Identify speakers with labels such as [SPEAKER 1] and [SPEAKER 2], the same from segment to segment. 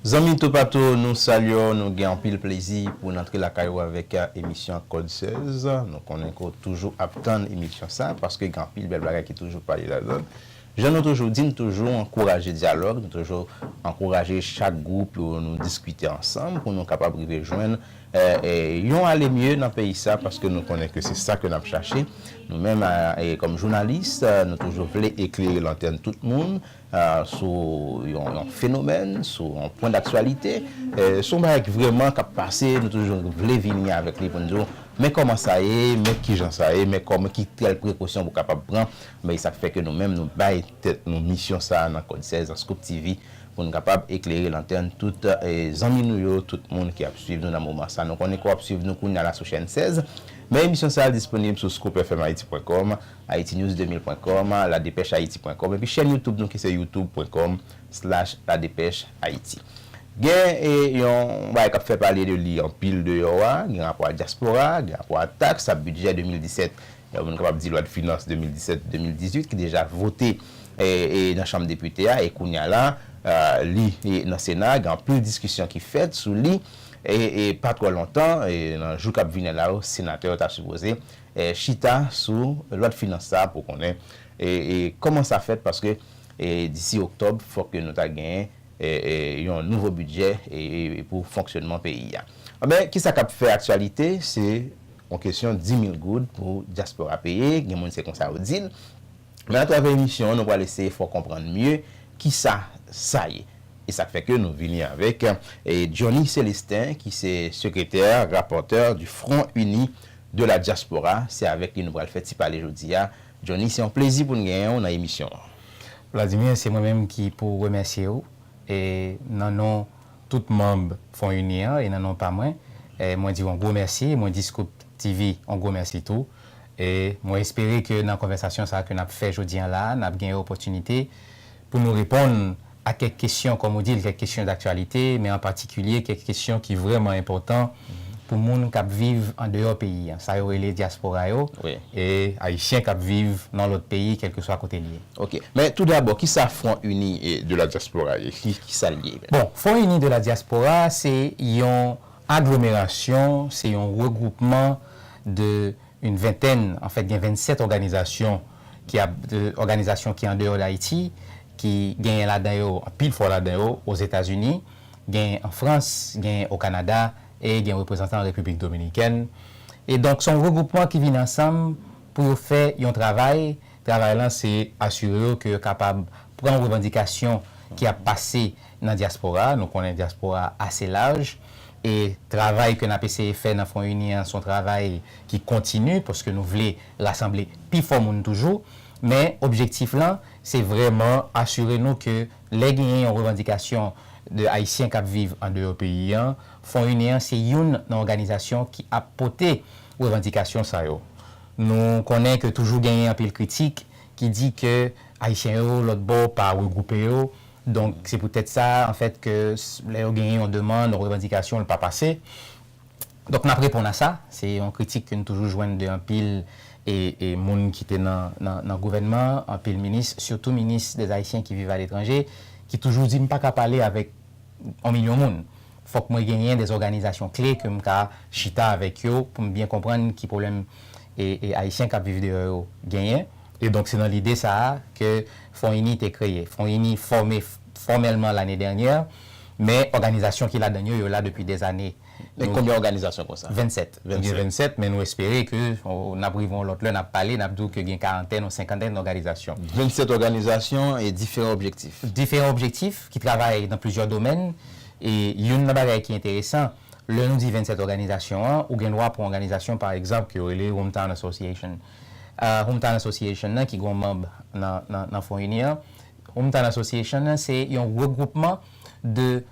[SPEAKER 1] Zanmi toupatou nou salye w nou gen anpil plezi pou n antre lakay ou avèk emisyon kòd 16 nou konnen ke w toujou ap tann emisyon sa paske gen anpil bèl bagay ki toujou pale ladan l jan nou toujou di n toujou ankouraje dyalòg nou toujou ankouraje chak gwoup yo nou diskite ansanm pou nou kapab rive jwenn yon ale mye nan peyi sa paske nou konnen ke se sa ke n ap chache nou menm kòm jounalis nou toujou vle eklere lantèn tout moun sou yon fenomèn, sou yon pwen daktyalite, sou yon bagay ki vrèman kap pase, nou toujou vle vini avèk li pou n di w, men kòman sa ye, men kijan sa ye, men kòman ki tèl prekosyon pou kapab pran, men e sa k fè ke nou menm nou bay tèt nou misyon sa nan Kòd 16 nan Scoop TV pou n kapab eklere lantèn tout zanmi nou yo, tout moun ki ap swiv nou nan moman sa. Nou konnen ke w ap swiv nou kounya la sou chèn 16, men emisyon sa disponib sou scoopfmhaiti pwen kòm Haitinews2000 pwen kòm, ladepèchayiti pwen kòm epi chèn YouTube nou ki se youtube pwen kòm slash ladepèchayiti. Gen yon bagay k ap fè pale de li anpil deyò a, gen rapò a dyaspora, gen rapò a taks, a bidjè 2017, yon moun kapab di lwadfinans 2017-2018 ki deja vote nan chanm depite a e kounye a la li nan sena a, gen anpil diskisyon ki fèt sou li e pa twò lontan nan jou k ap vini la yo senatè yo ta sipoze chita sou lwa finans sa pou konnen kòman sa fèt paske disi oktòb fòk ke nou ta genyen yon nouvo bidjè pou fonksyonman peyi a. Anben kisa k ap fè aktyalite se yon kesyon 10,000 goud pou dyaspora peye, gen moun se konsa yo di l. Men atravè emisyon an nou pral eseye fè w konprann mye kisa sa ye. E sa k fè ke nou vini avèk Johnny Célestin ki se sekretè, rapòtè du Front Uni De la diaspora, se avèk li nou pral fè ti pale jodi a. Johnny, se yon plezi pou n genyen w nan emisyon an. Vladimir,
[SPEAKER 2] se mwen menm ki pou remèsye w e nan non tout manb FONUNI an e nan non pa mwen, mwen di w yon gwo mèsi e mwen di Scoop TV yon gwo mèsi tou. E mwen espere ke nan konvèsasyon sa a ke n ap fè jodi an la a, n ap gen opòtinite pou nou reponn a kèk kesyon, kòm ou di l, kèk kesyon daktyalite, men an patikilye kèk kesyon ki vrèman enpòtan pou moun k ap viv andeyò peyi a, sa yo rele dyaspora yo, e Ayisyen k ap viv nan lòt peyi, kèlkeswa kote l ye. Ok. Men toudabò,
[SPEAKER 1] ki sa Front Uni de la Diaspora ye? Ki sa l ye? Bon, Front Uni de la
[SPEAKER 2] Diaspora se yon aglomerasyon, se yon regwoupman de une vingtaine, anfèt gen 27 òganizasyon ki ap òganizasyon ki andeyò Dayiti, ki genyen ladan yo, anpil fwa ladan yo, Ozetazini, genyen an Frans, genyen o Kanada e gen reprezantan an Repiblik Dominikèn. E donk se yon regwoupman ki vin ansanm pou yo fè yon travay, travay lan se asire yo ke yo kapab pran revandikasyon ki ap pase nan dyaspora a, nou konnen dyaspora a ase laj e travay ke n ap eseye fè nan Fon Ini an se yon travay ki kontini paske nou vle rasanble pi fò moun toujou, men objektif lan se vrèman asire nou ke lè genyen yon revandikasyon de Ayisyen k ap viv andeyò peyi an, Fon Inè an se youn nan òganizasyon ki ap pote revandikasyon sa yo. Nou konnen ke toujou genyen anpil kritik ki di ke Ayisyen yo lòt bò pa regwoupe yo, donk se poutèt sa anfèt ke lè yo genyen yon demann, yon revandikasyon, l pa pase. Donk nap reponn a sa, se yon kritik ke nou toujou jwenn de anpil moun ki te nan gouvènman an, anpil minis, sitou minis des Haïtiens qui vivent à l'étranger, ki toujou di m pa ka pale avèk on milyon moun. Fòk mwen genyen des organisations clés ke m ka chita avèk yo pou m byen konprann ki pwoblèm Ayisyen kap viv deyò yo genyen. E donk se nan lide sa a ke FONINI te kreye. FONINI fòme fòmèlman l'année dernière, men òganizasyon ki ladann yo, yo la depi des années. Gen konbyen òganizasyon
[SPEAKER 1] konsa? 27. Nou gen 27,
[SPEAKER 2] men nou espere ke n ap rive yon lòt lè, n ap pale, n ap di w ke gen karantèn ou senkantèn òganizasyon. 27 òganizasyon
[SPEAKER 1] e diferan objektif. Diferan
[SPEAKER 2] objektif, ki travay nan plizyè domèn. E youn nan bagay ki enteresan, lè nou di 27 òganizasyon an, ou gen dwa pran òganizasyon pa egzanp ke yo rele Hometown Association. Hometown Association nan ki gen yon manb nan Fon Ini an, Hometown Association nan se yon regwoupman de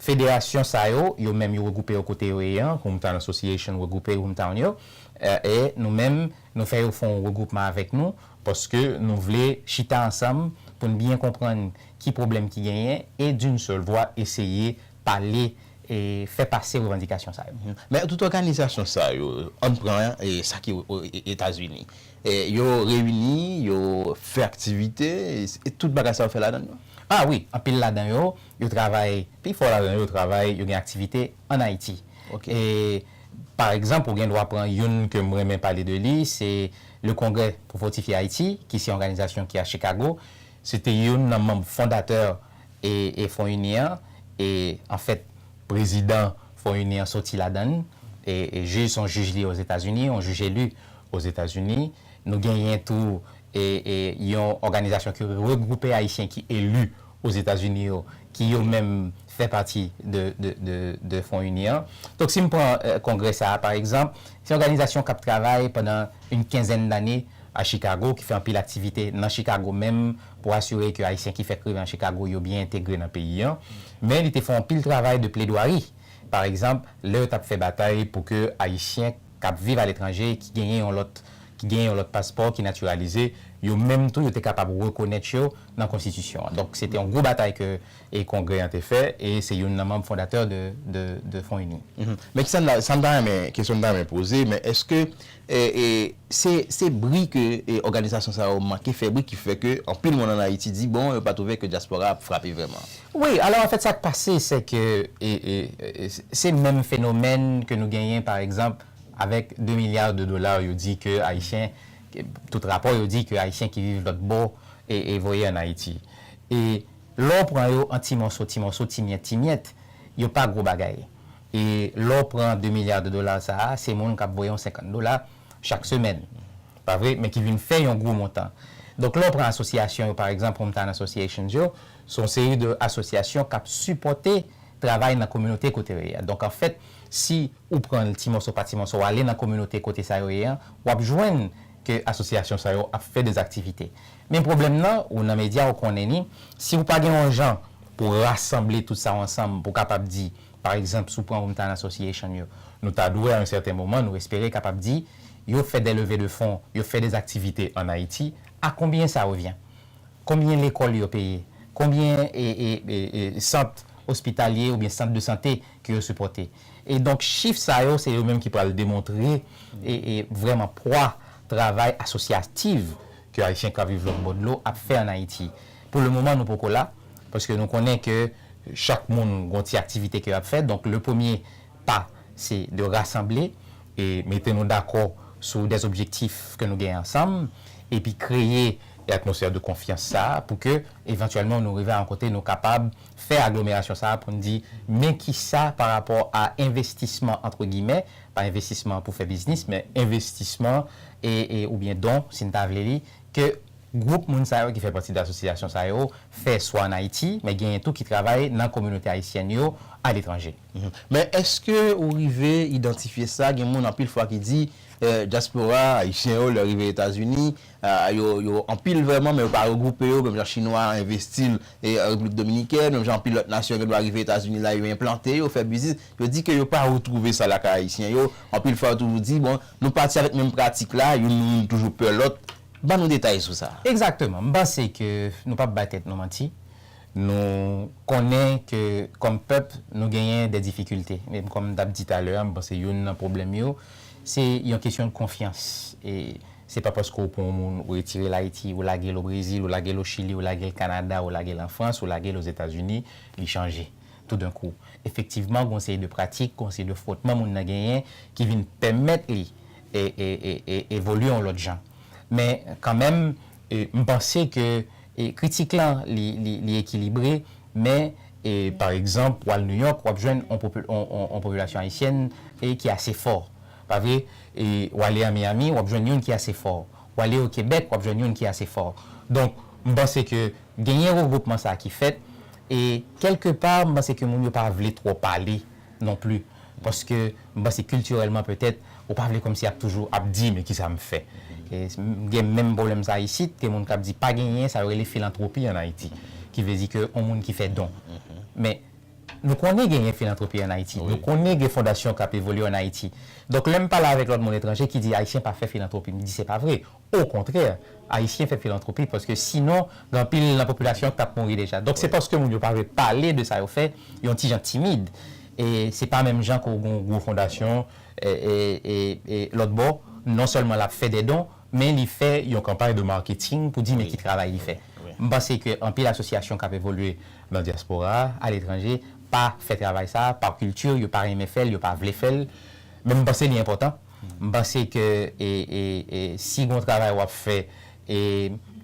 [SPEAKER 2] Federasyon sa yo, yo menm yo regwoupe yo kote yo ye an, Hometown Association regwoupe Hometown yo, e nou menm nou fè yo fè yon regwoupman avèk nou, paske nou vle chita ansanm pou n byen konprann ki pwoblèm ki genyen e d'une seule voix eseye pale e fè pase revandikasyon sa yo. Men tout òganizasyon
[SPEAKER 1] sa yo, ann pran sa ki Etazini, yo reyini, yo fè aktivite, e tout bagay sa yo fè ladan yo? A wi, anpil
[SPEAKER 2] ladan yo Yo travay, pi fò ladan yo travay, yo gen aktivite an Ayiti. E, pa egzanp, ou gen dwa pran youn ke m renmen pale de li, se Le Congrès pour fortifier Haïti, ki se yon òganizasyon ki a Chikago. Se te youn nan manm fondatè e Fon Ini an. E, anfèt, prezidan Fon Ini an soti ladan l. E, jij, se yon jij li ye Ozetazini, yon jij eli Ozetazini. Nou genyen tou yon òganizasyon ki regwoupe Ayisyen ki eli Ozetazini yo, ki yo menm fè pati de Fon Ini an. Donk si m pran kongrè sa a pa egzanp, se yon òganizasyon k ap travay pandan yon kenzèn dane a Chikago, ki fè anpil aktivite nan Chikago menm pou asire ke Ayisyen ki fèk rive an Chikago yo byen entegre nan peyi an. Men li te fè anpil travay de pledwari, pa egzanp lè yo t ap fè batay pou ke Ayisyen. k ap viv aletranje, ki genyen yon lòt ki genyen yon lòt paspò, ki natiralize, yo menm tou yo te kapab rekonèt yo nan konstitisyon an. Donk se te yon gwo batay ke e kongrè an te fè e se youn nan manm fondatè de de de Fon Ini. Men ki sa m ta sa
[SPEAKER 1] m ta renmen kesyon m ta renmen poze men èske e e se se bri ke e òganizasyon sa yo manke fè bri ki fè ke anpil moun ann Ayiti di bon yo pa twouve ke dyaspora a ap frape vrèman? Wi, alò anfèt sa
[SPEAKER 2] k pase se ke se menm fenomèn ke nou genyen pa egzanp avèk 2 milya de dola yo di ke Ayisyen, tout rapò yo di ke Ayisyen ki viv lòtbò e voye an Ayiti. E lè w pran yo an ti mòso, ti mòso, ti myèt, ti myèt, yo pa gwo bagay. E lè w pran 2 milya de dola sa a, se moun k ap voye yon 50 dola chak semèn. Pa vre? Men ki vin fè yon gwo montan. Donk lè w pran asosyasyon yo pa egzanp Hometown Associations yo, se yon seri de asosyasyon k ap sipòte travay nan kominote kote yo ye a. Donk anfèt, si ou pran l ti mòso pa ti mòso, w ale nan kominote kote sa yo ye an, w ap jwenn ke asosyasyon sa yo ap fè des activités. Men pwoblèm nan, ou nan medya ou konnen ni, si ou pa gen yon jan pou w rasanble tout sa yo ansanm pou w kapab di Pa egzanp, si w pran Hometown Association yo, nou ta dwe a yon sèten moman nou espere kapab di, yo fè dè leve de fon, yo fè dè aktivite an Ayiti, a konbyen sa revyen? Konbyen lekòl yo peye? Konbyen sant ospitalye oubyen sant de sante ke yo sipòte? E donk chif sa yo se yo menm ki pral demontre vrèman pwa travay asosyativ ke Ayisyen k ap viv lòtbò dlo ap fè an Ayiti. Pou le moman nou poko la, paske nou konnen ke chak moun gon ti aktivite ke yap fè, donk le premye pa se de rasanble e mete nou dakò sou des objektif ke nou gen ansanm epi kreye atmosfè de konfyans sa a pou ke evantyèlman nou rive a yon kote nou kapab fè aglomerasyon sa a pou n di men kisa pa rapò a envestisman antre gimè, pa envestisman pou fè biznis men envestisman e oubyen don si n ta vle li ke. Gwoup moun sa yo ki fè pati de asosyasyon sa yo fè swa an Ayiti, men genyen tou ki travay nan kominote ayisyèn yo aletranje. Men èske
[SPEAKER 1] ou rive idantifye sa? Gen moun anpil fwa ki di dyaspora ayisyen yo lè rive Etazini, yo anpil vrèman men yo pa regwoupe yo menm jan chinwa envesti l Repiblik Dominikèn, menm jan anpil lòt nasyon gen dwa rive Etazini la yo enplante yo, fè biznis. Yo di ke yo pa retwouve sa lakay ayisyen yo. Anpil fwa yo toujou di bon nou pati avèk menm pratik la, youn nou youn toujou pè lòt, Ban nou detay sou sa. Egzakteman. M panse ke
[SPEAKER 2] nou pap bay tèt nou manti. Nou konnen ke kòm pèp nou genyen dè difikilte. Men kòm m t ap di talè a, m panse youn nan pwoblèm yo, se yon kesyon konfyans. E se pa paske ou pran yon moun, ou retire l Ayiti, ou lage l Obrezil, ou lage l Ochili, ou lage l Kanada, ou lage l an Frans, ou lage l Ozetazini, li chanje. toudenkou. Efektivman, gon seri de pratik, gon seri de fwotman moun nan genyen ki vin pèmèt li evolye yon lòt jan. Men, kanmenm, m panse ke kritik lan li ekilibre, men, pa egzanp, w al Nouyòk, w ap jwenn yon popilasyon ayisyèn ki ase fò. Pa vre? W ale an Miyami, w ap jwenn youn ki ase fò. W ale o Kebèk, w ap jwenn youn ki ase fò. Donk, m panse ke Genyen regwoupman sa ki fèt e kèlke pa m panse ke moun yo pa vle twò pale non pli paske m panse kiltirèlman petèt ou pa vle kòmsi ap toujou ap di men kisa m fè. Gen menm pwoblèm sa isit, gen moun k ap di pa genyen sa yo rele filantwopi an Ayiti ki vle di ke yon moun ki fè don. Men nou konnen genyen filantwopi an Ayiti, nou konnen gen fondasyon k ap evolye an Ayiti. Donk lè m pale avèk lòt moun etranje ki di Ayisyen pa fè filantwopi m di se pa vre. Okontrè, Ayisyen fè filantwopi paske sinon gen anpil nan popilasyon an k t ap mouri deja. Donk se paske moun yo pa vle pale de sa yo fè, yon ti jan timid. E se pa menm jan ke w gen yon gwo fondasyon e lòt bò non sèlman l ap fè dè don men li fè yon kanpay de marketing pou di men ki travay li fè. M panse ke anpil asosyasyon k ap evolye nan dyaspora a, aletranje, pa fè travay sa a par culture, yo pa renmen fè l, yo pa vle fè l. Men m panse li enpòtan. M panse ke si gon travay w ap fè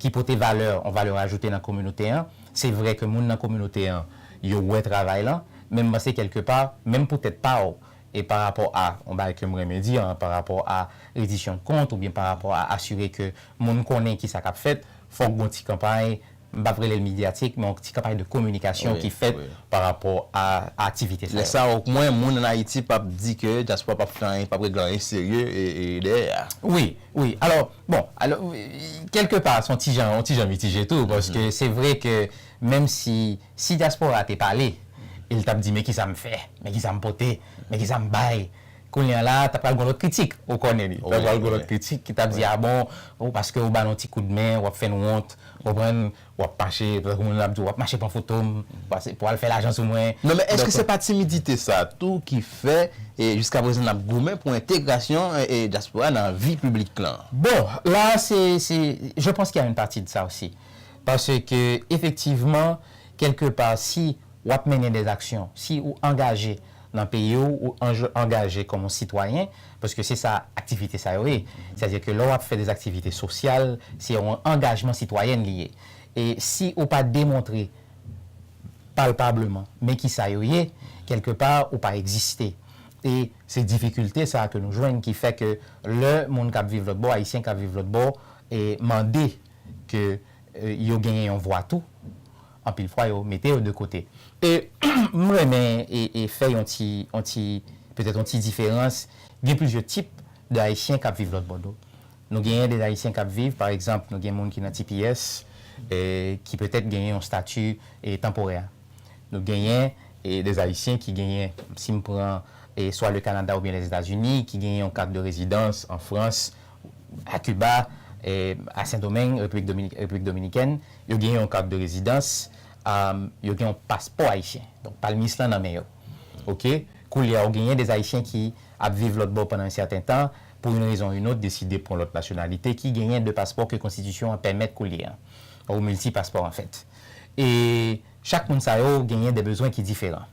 [SPEAKER 2] ki pote valè, yon valè ajoute nan kominote an, se vre ke moun nan kominote an yo wè travay lan, men m panse kèlke pa, menm pou tèt pa w, e pa rapò a yon bagay ke m renmen di an, pa rapò a redisyon kont oubyen pa rapò a asire ke moun konnen kisa k ap fèt, fòk gon ti kanpay m pap rele l medyatik men yon ti kanpay de kominikasyon ki fèt pa rapò a aktivite sa yo. Lè sa a omwen moun
[SPEAKER 1] an Ayiti pap di ke dyaspora pap fè anyen, pap regle anyen serye dèyè a. Wi, wi. Alò,
[SPEAKER 2] bon, alò, kèlke pa s on ti jan, on ti jan mitije tou paske se vre ke menm si, si dyaspora te pale e l t ap di men kisa m fè, men kisa m pote, men kisa m bay, Kounye a la, ta pral gon lòt kritik, ou konnen li. Ta pral gon lòt kritik ki t ap di a bon, o paske ou ba n on ti kout men, w ap fè n wont, ou konprann, w ap mache, tankou moun yo ap di w ap mache pran foto m, pase pou al fè lajan sou mwen. Non men èske se pa
[SPEAKER 1] timidite sa a tou ki fè jiskaprezan n ap goumen pou entegrasyon dyaspora nan vi piblik lan? Bon, la a
[SPEAKER 2] se, se, je panse ki a une partie de ça aussi. Paske efektivman, kèlke pa si w ap mennen des actions, si ou angaje Nan peyi w, ou angaje kòm yon sitwayen, paske se sa aktivite sa yo ye. Sètadi ke lè w ap fè dè aktivite sosyal, se yon angajman sitwayèn li ye. E si ou pa demontre palpableman men ki sa yo ye, kèlke pa ou pa egziste. E se difikilte sa a ke nou jwenn ki fè ke lè moun k ap viv lòt bò, Ayisyen k ap viv lòt bò, mande ke yo genyen yon vwa tou, anpil fwa yo mete yo de kote e m renmen e fè yon ti yon ti petèt yon ti diferans gen plizyè tip de ayisyen kap viv lòtbò dlo nou genyen de ayisyen kap viv pa egzanp nou gen moun ki nan tps e ki petèt genyen yon stati e tanporè nou genyen e de ayisyen ki genyen si m pran e swa le kanada oubyen lèzetazini ki genyen yon kat de rezidans an frans a Kiba, a Sendomeng, Repiblik Dominikèn, yo gen yon kat de rezidans, yo gen yon paspò ayisyen. Donk palmis lan nan men yo. Ok. Koulye a ou genyen des Ayisyen ki ap viv lòt bò pandan yon sèten tan, pou youn rezon ou youn ot deside pran lòt nasyonalite, ki genyen de paspò ke konstitisyon an pèmèt koulye a. Ou milti paspò anfèt. E chak moun sa yo genyen de bezwen ki diferan.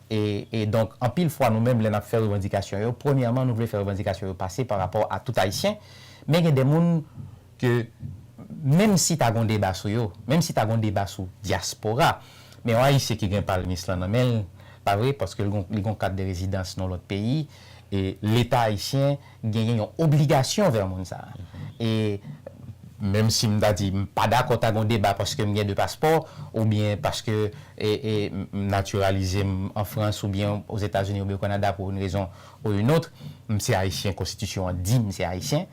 [SPEAKER 2] E donk, anpil fwa nou menm lè n ap fè revandikasyon yo, premyèman nou vle fè revandikasyon yo pase pa rapò a tout Ayisyen, men gen de moun ke menm si ta gon deba sou yo, menm si ta gon deba sou dyaspora, men yon Ayisyen ki gen palmis lan nan men l, pa vre, paske li gon kat de rezidans nan lòt peyi, e Leta Ayisyen, genyen yon obligasyon vè moun sa a. E menm si m ta di m pa dakò ta gen yon deba paske m gen de paspò oubyen paske m natiralize m an Frans oubyen Ozetazini oubyen Okanada pou youn rezon ou youn ot, m se Ayisyen, konstitisyon an di m se Ayisyen,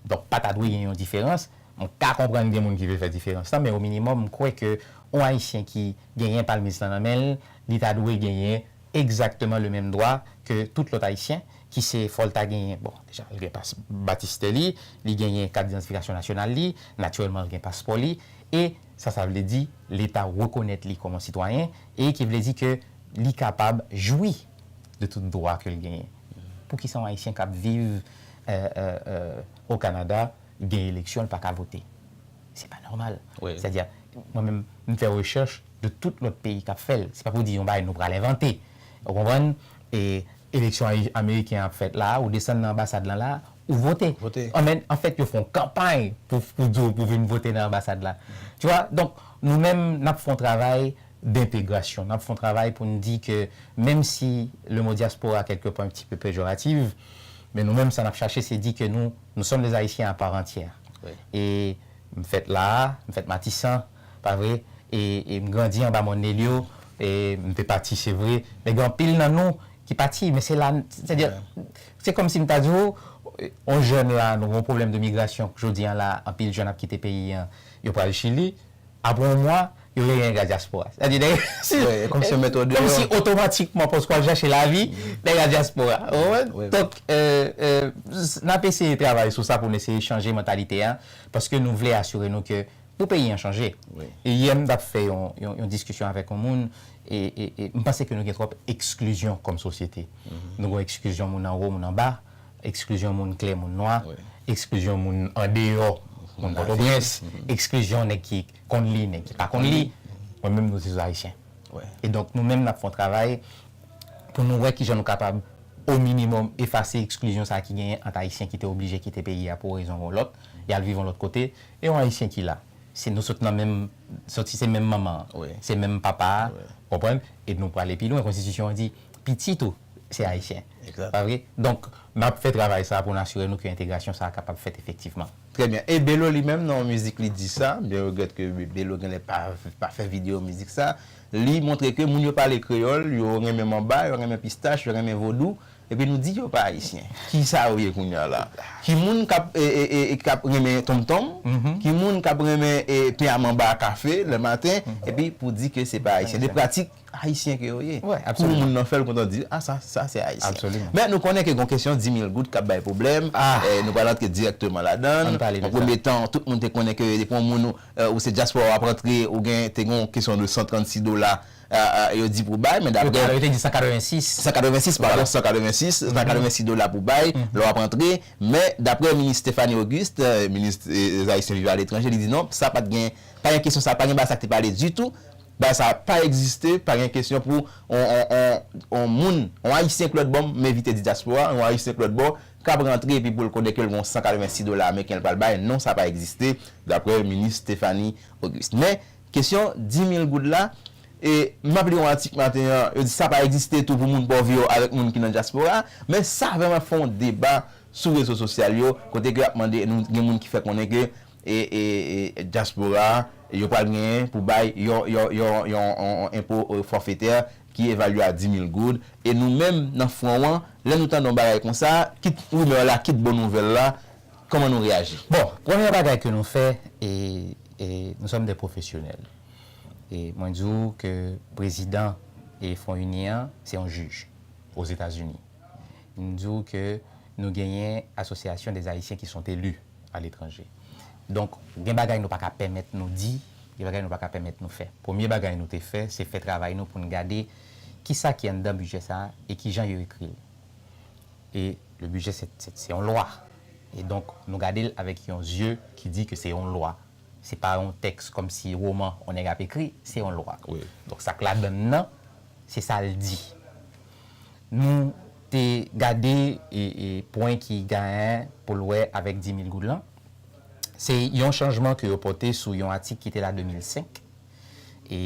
[SPEAKER 2] donk pa ta dwe gen yon diferans. M ka konprann gen moun ki vle fè diferans lan men ominimòm m kwè ke yon Ayisyen ki genyen palmis lan nan men l, li ta dwe genyen. egzakteman le menm dwa ke tout lòt ayisyen ki se fò l ta genyen bon deja l gen pas batistè li li genyen kat didantifikasyon nasyonal li natirèlman l gen paspò li e sa sa vle di leta rekonèt li kòm on sitwayen e ki vle di ke li kapab jwi de tout dwa ke l genyen poukisa on ayisyen k ap viv o kanada gen eleksyon l pa ka vote. Se pa nòmal. Sa di a, mwen menm, m fè rechèch de tout lòt peyi k ap fè l. Se pa pou di yon bagay nou pral envante. Ou konprann? E eleksyon ameriken an ap fèt la a, ou desann nan anbasad lan la a, ou vote. Anfèt, yo fè yon kanpay pou di w pou vin vote nan anbasad la. Tu wè? Donk, nou menm, n ap fè yon travay dentegrasyon. N ap fè yon travay pou n di ke menm si le mo dyaspora kèlke pwen ti pe pejorativ, men nou menm sa n ap chache se di ke nou Nous sommes des Haïtiens à part entière e
[SPEAKER 1] m
[SPEAKER 2] fèt la a, m fèt Matisan, pa vre? e m grandi anba Mòn Nelyo, e m te pati se vre, men gen anpil nan nou ki pati, men se la, sètadi, se kòm si m ta di ou, yon jèn la, nou gen yon pwoblèm de migrasyon, jodi a la, anpil jèn ap kite peyi an, yo pral Chili. Apre yon mwa, yo vle gen gaz dyaspora. Sa di nèg yo, kòm si yo met
[SPEAKER 1] ou deyò. Kòm si otomatikman
[SPEAKER 2] paske w ap chache lavi, nèg la dyaspora. Ou konprann? Donk, n ap eseye travay sou sa pou n eseye chanje mantalite a, paske nou vle asire nou ke pou peyi an chanje. Yè m t ap
[SPEAKER 1] fè
[SPEAKER 2] yon diskisyon avèk yon moun, e m panse ke nou gen twòp eksklizyon kòm sosyete. Nou gen eksklizyon moun anwo, moun anba. Eksklizyon moun klè, moun nwa, eksklizyon moun andeyò, moun Pòtoprens, eksklizyon nèg ki konn li, nèg ki pa konn li, mwen menm nou se sou Ayisyen. E donk nou
[SPEAKER 1] menm n ap fè
[SPEAKER 2] yon travay pou nou wè ki jan nou kapab o minimòm efase eksklizyon sa ki genyen ant Ayisyen ki te oblije kite peyi a pou yon rezon ou yon lòt, y al viv yon lòt kote, e yon Ayisyen ki la. Se nou sot nan menm, sòti se menm manman an, se menm papa a, ou konprann, e nou prale pi lwen, konstitisyon an di pitit ou se Ayisyen. Exact. Pa vre? Donk, n ap fè travay sa a pou n asire nou ke entegrasyon sa a kapab fèt efektivman. Trè byen. E Belo
[SPEAKER 1] li menm nan yon mizik li di sa, m byen regrèt ke Belo genlè pa pa fè videyo mizik sa, li montre ke moun yo pale kreyòl, yo renmen manba, yo renmen pistach, yo renmen vodou, epi nou di yo pa ayisyen. Ki sa yo ye kounye a la? Ki moun k ap k ap renmen tonmtonm, ki moun k ap renmen te a manba a kafe lè maten, epi pou di ke se pa ayisyen. De pratik Ayisyen ke yo ye. Pou moun nan fèl
[SPEAKER 2] kontan
[SPEAKER 1] di,
[SPEAKER 2] a
[SPEAKER 1] sa, sa se Ayisyen. Men nou konnen ke
[SPEAKER 2] gon kesyon
[SPEAKER 1] dimil goud kap bay pwoblèm, nou pral antre dirèkteman ladann. Nan premye tan, tout moun te konnen ke depi yon moun ou se dyaspora wap antre, ou gen, te gen yon kesyon de 136 dola yo di pou bay, men daprè. Yo te di 186. 186, padon, 186, 186 dola pou bay lè wap antre. Men daprè minis Stéphanie Auguste, minis Ayisyen vivan aletranje, li di non, sa pat gen, pa gen kesyon sa, pa gen bagay sa ki te pale ditou. Bagay sa pa egziste, pa gen kesyon pou yon moun, yon ayisyen k lòt bò, m evite di dyaspora, yon ayisyen k lòt bò k ap rantre epi pou l konnen ke l gen yon 186 dola ameriken l pral bay, non sa pa egziste, daprè minis Stephanie Auguste. Men, kesyon 10 mil goud la, e m ap li yon atik maten an, yo di sa pa egziste tou pou moun pòv yo avèk moun ki nan dyaspora, men sa vrèman fè yon deba sou rezo sosyal yo, kote ke y ap mande, gen moun ki fè konnen ke e dyaspora a yo pral genyen pou bay yon enpo fòfetè ki evalye a 10 mil goud, e nou menm nan fwon an, lè nou tande yon bagay konsa, kit rimè la, kit bon nouvèl la, kòman nou reyaji? Bon, premyè bagay ke
[SPEAKER 2] nou fè, e nou sòm dè pwofesyonèl, e mwen di ou ke prezidan e Fwon Ini an, se yon jij Ozetazini, m di ou ke nou genyen asosyasyon dè Ayisyen ki sont elus, a letranje. Donk, gen bagay nou pa ka pèmèt nou di, gen bagay nou pa ka pèmèt nou fè. Premye bagay nou te fè, se fè travay nou pou n gade ki sa ki anndan bidjè sa a e ki jan yo ekri l. E le bidjè se, se yon lwa. E donk, nou gade l avèk yon zye ki di ke se yon lwa. Se pa yon tèks kòm si woman yon nèg ap ekri, se yon lwa. Donk, sa k ladan
[SPEAKER 1] l
[SPEAKER 2] nan, se sa l di. Nou te gade pwen ki gayan pou l wè avèk 10 mil goud lan. Se yon chanjman ke yo pote sou yon atik ki te la 2005 e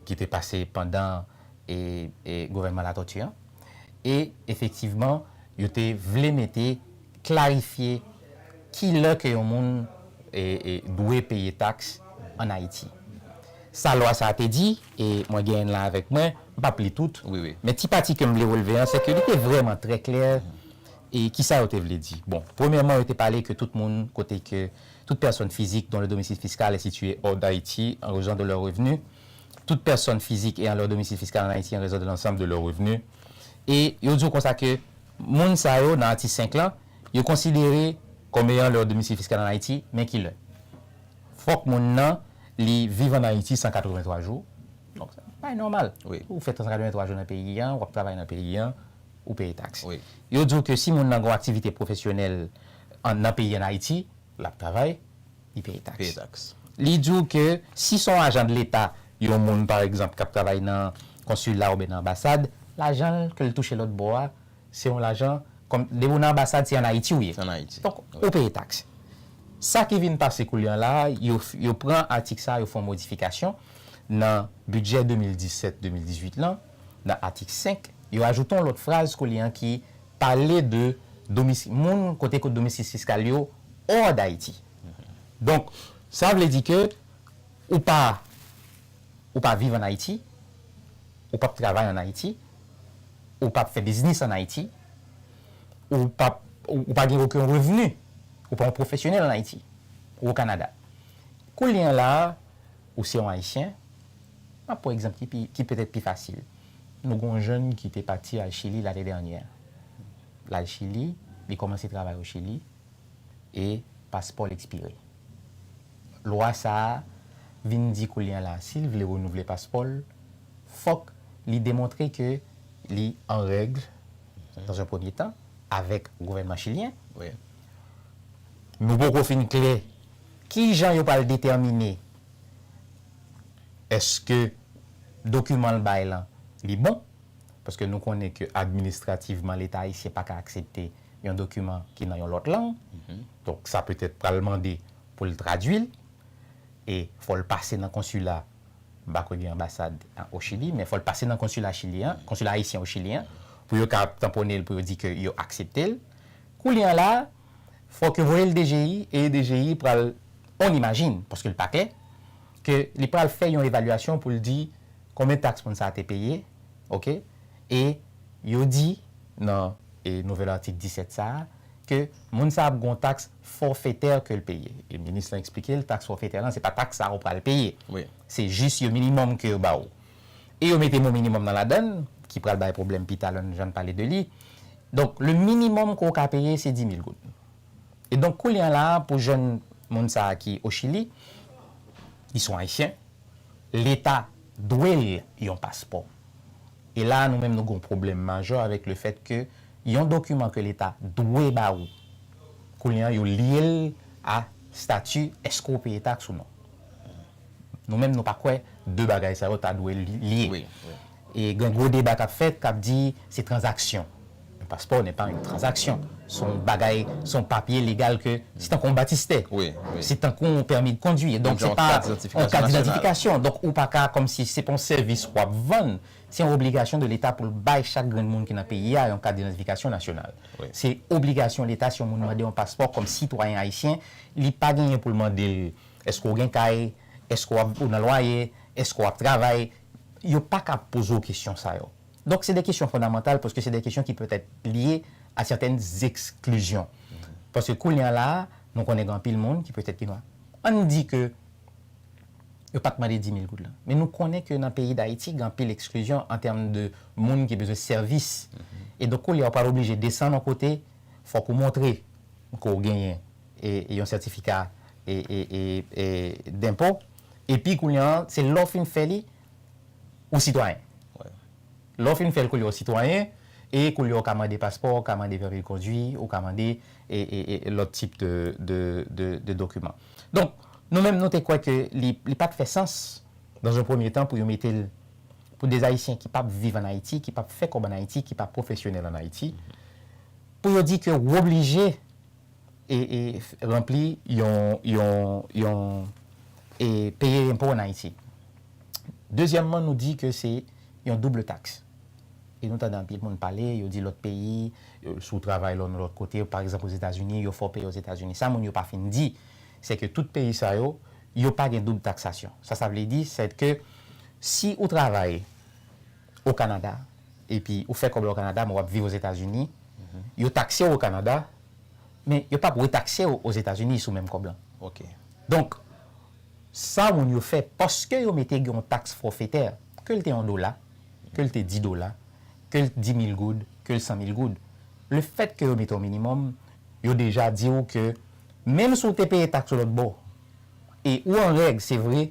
[SPEAKER 2] ki te pase pandan gouvènman Latoti an. E efektivman, yo te vle mete Klarifye ki lè ke yon moun dwe peye taks an Ayiti. Sa lwa sa a te di, e mwen genyen l lan avèk mwen, m pap li tout, men ti pati ke
[SPEAKER 1] m vle
[SPEAKER 2] relve an, se ke li te vrèman trè klè e ki sa yo te vle di. Bon, premyèman yo te pale ke tout moun kote ke toute personne physique dont le domicile fiscal est situé hors d'Haïti en raison de leurs revenus, toute personne physique ayant leur domicile fiscal en Haïti en raison de l'ensemble de leurs revenus, e yo di w konsa ke Moun sa yo nan atik 5 lan, yo konsidere kòm eyan lèr domisil fiskal an Ayiti, men ki lè. Fòk moun nan li viv an Ayiti 183 jou, donk se pa enòmal. Ou fè 183
[SPEAKER 1] jou nan
[SPEAKER 2] peyi an, w ap travay nan peyi an, ou peye taks. Yo di w ke si
[SPEAKER 1] moun nan
[SPEAKER 2] gen yon aktivite pwofesyonèl nan peyi an Ayiti, l ap travay. li peye taks. Li di w ke si se yon ajan de leta, yon moun pa egzanp kap travay nan konsila oubyen nan anbasad, lajan l ke l touche lòt bò a, se yon lajan kòm depi w nan anbasad se an Ayiti w ye. Donk ou
[SPEAKER 1] peye taks.
[SPEAKER 2] Sa ki vin pase koulye an la a, yo pran atik sa a yo fè yon modifikasyon nan bidjè 2017, 2018 lan, nan atik 5, yo ajoute yon lòt fraz koulye an ki Pale de domisi, moun kote ko domisis fiskal yo hors d'Haiti. Donk, sa vle di ke ou pa ou pa viv an Ayiti, ou pap travay an Ayiti, ou pap fè biznis an Ayiti, ou pap ou pa gen oken revni, ou pa yon pwofesyonèl an Ayiti ou o Kanada. Koulye an la a, ou se yon Ayisyen, m ap pran egzanp ki pi ki petèt pi fasil. Nou gen yon jèn ki te pati al Chili lane dènyè. L al Chili, li kòmanse travay o Chili e paspò l ekspire. Lwa sa a vin di koulye a la si l vle renouvle paspò l, fòk li demontre ke li an règ dans un premye tan avèk gouvènman chilyen. Nou poko fin klè kijan yo pral detèmine Eske dokiman l bay lan li bon? Paske nou konnen ke administrativman leta ayisyen pa ka aksepte yon dokiman ki nan yon lòt lang. Donk sa petèt pral mande pou l tradui l. E fò l pase nan konsila, m pa kwè gen anbasad o Chili, men fò l pase nan konsila chilyen an, konsila ayisyen o Chili an, pou yo ka tanpone l pou yo di ke yo aksepte l. Koulye a la. Fòk yo voye l DGI e DGI pral, on imagine, paske l pa klè, ke li pral fè yon evalyasyon pou l di konbyen taks moun sa a te peye, ok, e yo di nan e nouvèl atik 17 sa a ke moun sa a ap gen yon taks fòfetè ke l peye. E minis lan eksplike l taks fòfetè lan se pa taks sa a ou pral peye. Se jis
[SPEAKER 1] yon minimòm
[SPEAKER 2] ke yo ba ou. e yo mete mo minimum nan ladann ki pral bay pwoblèm pita lè n jan n pale de li. Donk le minimum ke w ka peye se 10 mil goud. E donk koulye an la pou jèn moun sa a ki o Chili, li son Ayisyen, leta dwe l yon paspò. E la a nou menm nou gon pwoblèm majè avèk le fèt ke yon dokiman ke leta dwe ba ou koulye an yo lye l a stati èske w peye taks ou non. Nou menm nou pa kwè 2 bagay sa yo ta dwe lye. E
[SPEAKER 1] gen gwo
[SPEAKER 2] deba k ap fèt k ap di se tranzaksyon. Yon paspò nè pa yon tranzaksyon. Se yon bagay, se yon papye legal ke, se tankou yon batistè. Se tankou
[SPEAKER 1] yon pèmi
[SPEAKER 2] de kondwi. Donk se pa yon kat didentifikasyon. Donk ou pa ka kòm si se pa yon sèvis w ap vann. Se yon obligasyon de leta pou l bay chak grenn moun ki nan peyi a yon kat didentifikasyon nasyonal. Se
[SPEAKER 1] obligasyon
[SPEAKER 2] leta si yon moun mande yon paspò kòm sitwayen ayisyen, li pa genyen pou l mande l Èske w gen kay? Èske w ap ou nan lwaye? Èske w ap travay? Yo pa ka ap poze w kesyon sa yo. Donk se de kesyon fondamantal paske se de kesyon ki petèt lye a sètèn zeksklizyon. Paske kounye a la a, nou konnen gen anpil moun ki petèt ki nwa. An n di ke yo pa t mande dimil goud lan. Men nou konnen ke nan peyi Dayiti gen anpil eksklizyon an tèm de moun ki bezwen sèvis. E donk koulye a ou pral oblije desann yon kote, fòk ou montre ke w genyen. yon sètifika denpo epi kounye an se lè w fin fè li ou sitwayen lè w fin fè l kounye w sitwayen e kounye w ka mande paspò ou ka mande pèmi kondwi ou ka mande lòt tip de dokiman donk nou menm nou te kwè ke li pat fè sans dan zon premye tan pou yo mete l pou de ayisyen ki pap viv an ayiti ki pap fè kòb an ayiti ki pa pwofesyonèl an ayiti pou yo di ke w oblije ranpli yon, yon, yon e peye enpo an Ayiti. Dezyèmman nou di ke se yon double tax. E nou tande anpil moun pale, yo di lòt peyi, si w travay lò nan lòt kote, pa egzanp Ozetazini, yo fè w peye Ozetazini. Sa moun yo pa fin di, se ke tout peyi sa yo, yo pa gen doub taksasyon. Sa sa vle di, se ke si ou travay O Kanada, epi ou fè kòb la o Kanada, men wap viv Ozetazini, yo takse w o Kanada, men yo pap retakse w Ozetazini sou menm kòb lan. Ok. Donk, sa moun yo fè, paske yo mete gen yon taks fòfetè, ke l te yon dola, ke l te di dola, ke l di mil goud, ke l san mil goud, le fèt ke yo mete yon minimòm, yo deja di w ke menm si w te peye taks ou lòt bò, e ou an règ, se vre,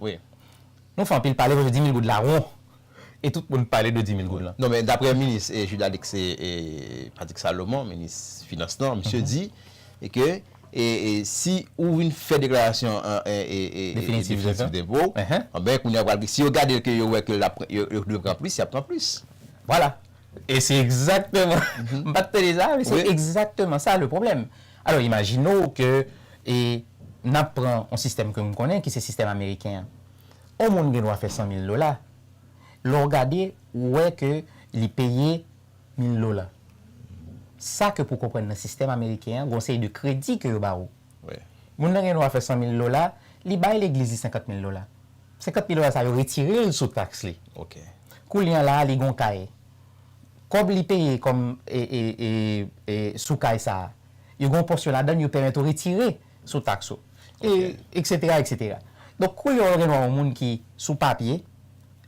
[SPEAKER 2] Wi. Nou fè anpil pale paske dimil goud la won e tout moun pale de dimil goud lan. Non men daprè minis
[SPEAKER 1] Jude Alix Patrick Salomon, minis finans lan, misye di ke si ou vin fè deklarasyon
[SPEAKER 2] definitif denpo w,
[SPEAKER 1] anben kounye a pral gen, si yo gade l ke yo wè ke yo dwe pran plis, y ap pran plis. Vwala.
[SPEAKER 2] E se egzakteman, m pa t tande sa, men se egzakteman sa le pwoblèm. Alò imajine w ke e n ap pran yon sistèm ke m konnen ki se sistèm ameriken an. Yon moun gen dwa fè 100 mil dola, lè w gade ou wè ke li peye mil dola. Sa ke pou w konprann nan sistèm ameriken an gen yon seri de kredi ke yo ba ou. Moun nan
[SPEAKER 1] gen dwa fè
[SPEAKER 2] 100 mil dola, li bay legliz li 50 mil dola. 50 mil dola sa yo retire l sou taks li. Koulye
[SPEAKER 1] a la a li
[SPEAKER 2] gen yon kay, Kòb li peye kòm sou kay sa a, yo gen yon pòsyon ladan l yo pèmèt ou retire sou taks ou, eksetera, eksetera. Donk, kou lè w gen dwa yon moun ki, sou papye,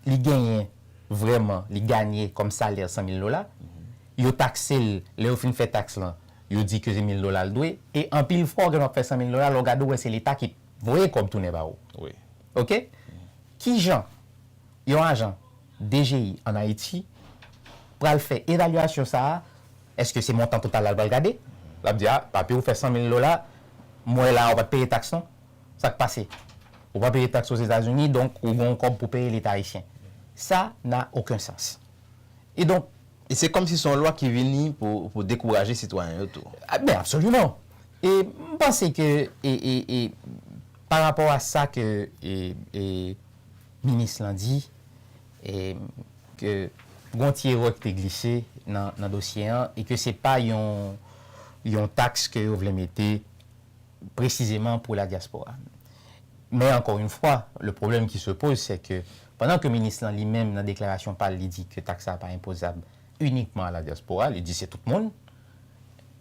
[SPEAKER 2] li genyen vrèman, li ganye kòm salè sanmil dola, yo takse l, lè yo fin fè taks lan, yo di ke se mil dola l dwe, e anpil fwa w gen dwa ap fè sanmil dola, lè w gade ou wè se leta ki voye kòb tounen ba ou. Oke? Ki jan? Yon ajan DGI an Ayiti pral fè evalyasyon sa a, èske se montan total la l pral gade? L ap di, a, papi ou fè san mil dola, m wè la a ou pa t peye taks non. Sa k pase? Ou pa peye taks Ozetazini, donk ou gen yon kòb pou peye Leta ayisyen. Sa n'a aucun sens. E donk. E se kòmsi se yon
[SPEAKER 1] lwa ki vini pou dekouraje sitwayen yo tou. Ben, absoliman!
[SPEAKER 2] E m panse ke e, e, e, parapò a sa ke e, e. Minis lan di ke gon ti erè ki te glise nan dosye an e ke se pa yon taks ke yo vle mete presizeman pou la diaspora. Men ankò yon fwa, le pwoblèm ki se poze se ke pandan ke minis lan li menm nan deklarasyon pa l li di ke taks sa pa enpozab inikman a la diaspora, li di se tout moun.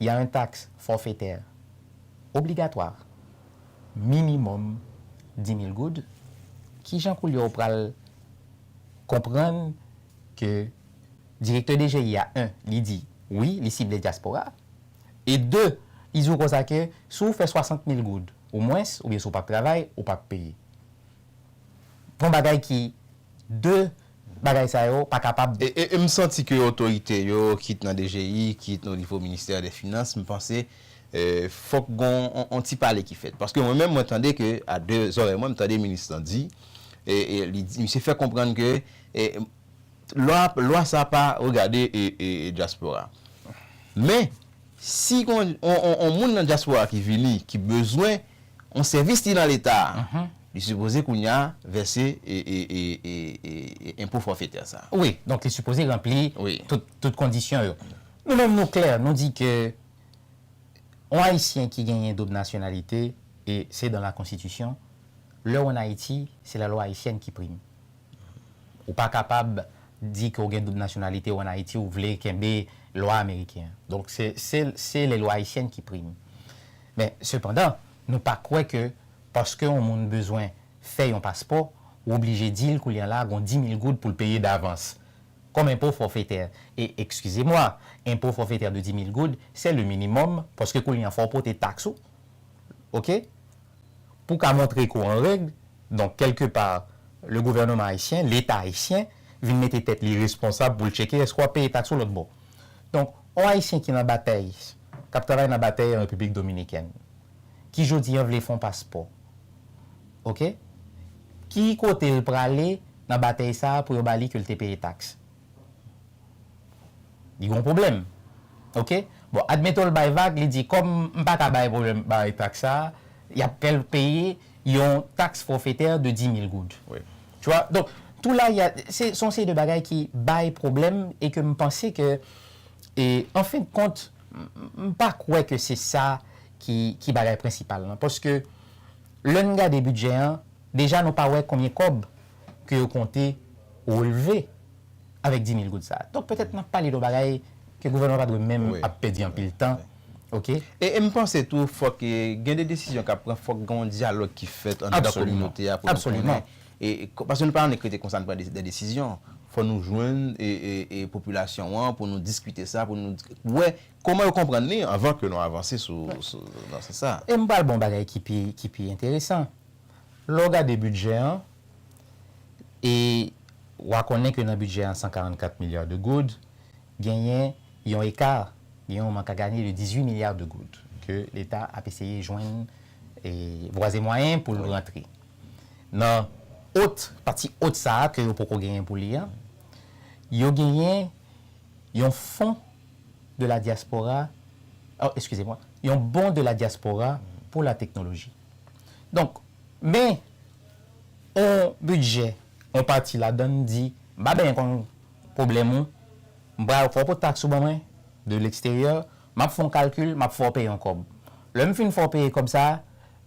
[SPEAKER 2] ya un taxe forfaitaire obligatoire minimum 10.000 goud kijan koulye ou pral konprann ke direktè dgi ya un li di wi li sible diaspora e deux li di ou konsa ke si ou fè 60.000 goud ou mwens oubyen si ou pap travay ou pap peye. Gon bagay ki 2 bagay sa yo pa kapab. E m santi ke
[SPEAKER 1] otorite yo, kit nan DGI, kit o nivo ministè dè finans, m panse fòk gon on ti pale ki fèt. Paske mwen menm mwen tande ke a 2 zòrèy mwen, m tande minis lan di, li di, misye fè konprann ke lwa sa pa regade dyaspora. Men. Si gon on moun nan diaspora ki vini ki bezwen on sèvis li nan leta li sipoze kounya vèse enpo fòfetè sa. Wi, donk li sipoze
[SPEAKER 2] ranpli tout
[SPEAKER 1] kondisyon yo.
[SPEAKER 2] Nou menm nou klè, nou di ke on ayisyen ki genyen doub nasyonalite e se dan la konstitisyon, lè ou an Ayiti se la lwa ayisyèn ki prime. Ou pa kapab di ke w gen doub nasyonalite ou an Ayiti ou vle kenbe lwa ameriken an. Donk se se le lwa ayisyèn ki prime. Men sepandan nou pa kwè ke paske yon moun bezwen fè yon paspò ou oblije di l koulye a la gon dimil goud pou l peye davans kòm enpo fòfetè. E ekskize mwa, enpo fòfetè de dimil goud se le minimòm paske koulye a fò w pote taks ou. Ok. pou w ka montre ke w an règ, donk kèlke pa le gouvèneman ayisyen, leta ayisyen vin mete tèt li responsab pou l tcheke èske w ap peye taks ou lòtbò. Donk on ayisyen ki nan batey, k ap travay nan batey an Repiblik Dominikèn, ki jodi an vle fè on paspò, ok, ki kote l prale nan batey sa a pou yo ba li ke l te peye taks? Li gen yon pwoblèm. Ok? Bon, admeton l bay vag, li di kòm m pa ka bay pwoblèm bay taks sa a, y ap fè l peye yon taks fòfetè de 10.000 goud. Tu wà? Donk, tou la, y a, se son seri de bagay ki bay pwoblèm e ke m panse ke, e an fen de kont, m pa kwè ke se sa ki ki bagay prensipal lan. Paske lè n gade bidjè an, deja nou pa wè konbyen kòb ke yo konte relve avèk 10 mil goud sa. Donk petèt nap pale don bagay ke gouvènman pa dwe menm ap pèdi anpil tan. Ok. E m panse
[SPEAKER 1] tou fòk gen de desizyon kap pran fòk gen yon dyalòg ki fèt anndan kominote a pou nou konnen. Absoliman.
[SPEAKER 2] Paske
[SPEAKER 1] nou pa annik rete konsa nou pran de desizyon. Fò nou jwenn popilasyon an pou nou diskite sa, pou nou wè kòman yo konprann li anvan ke nou avanse sou nan sans sa. E m pral ba w yon bagay
[SPEAKER 2] ki pi enteresan. Lè w gade bidjè an, e w a konnen ke nan bidjè an 144 milya de goud, genyen yon eka, gen yon mank a ganye de 18 milya de goud ke leta ap eseye jwenn vwazemwayen pou l rantre. Nan ot, pati ot sa a ke yo poko genyen pou li an, yo genyen yon fon de la dyaspora, eskize mwen, yon bon de la dyaspora pou la teknoloji. Donk, men yon bidjè, yon pati ladan l di, m pa benyen konn pwoblèm ou, m pral fè w pote taks ou ban mwen, de leksteryè, m ap fè yon kalkil, m ap fè w peye yon kòb. Lè m fin fè w peye kòb sa a,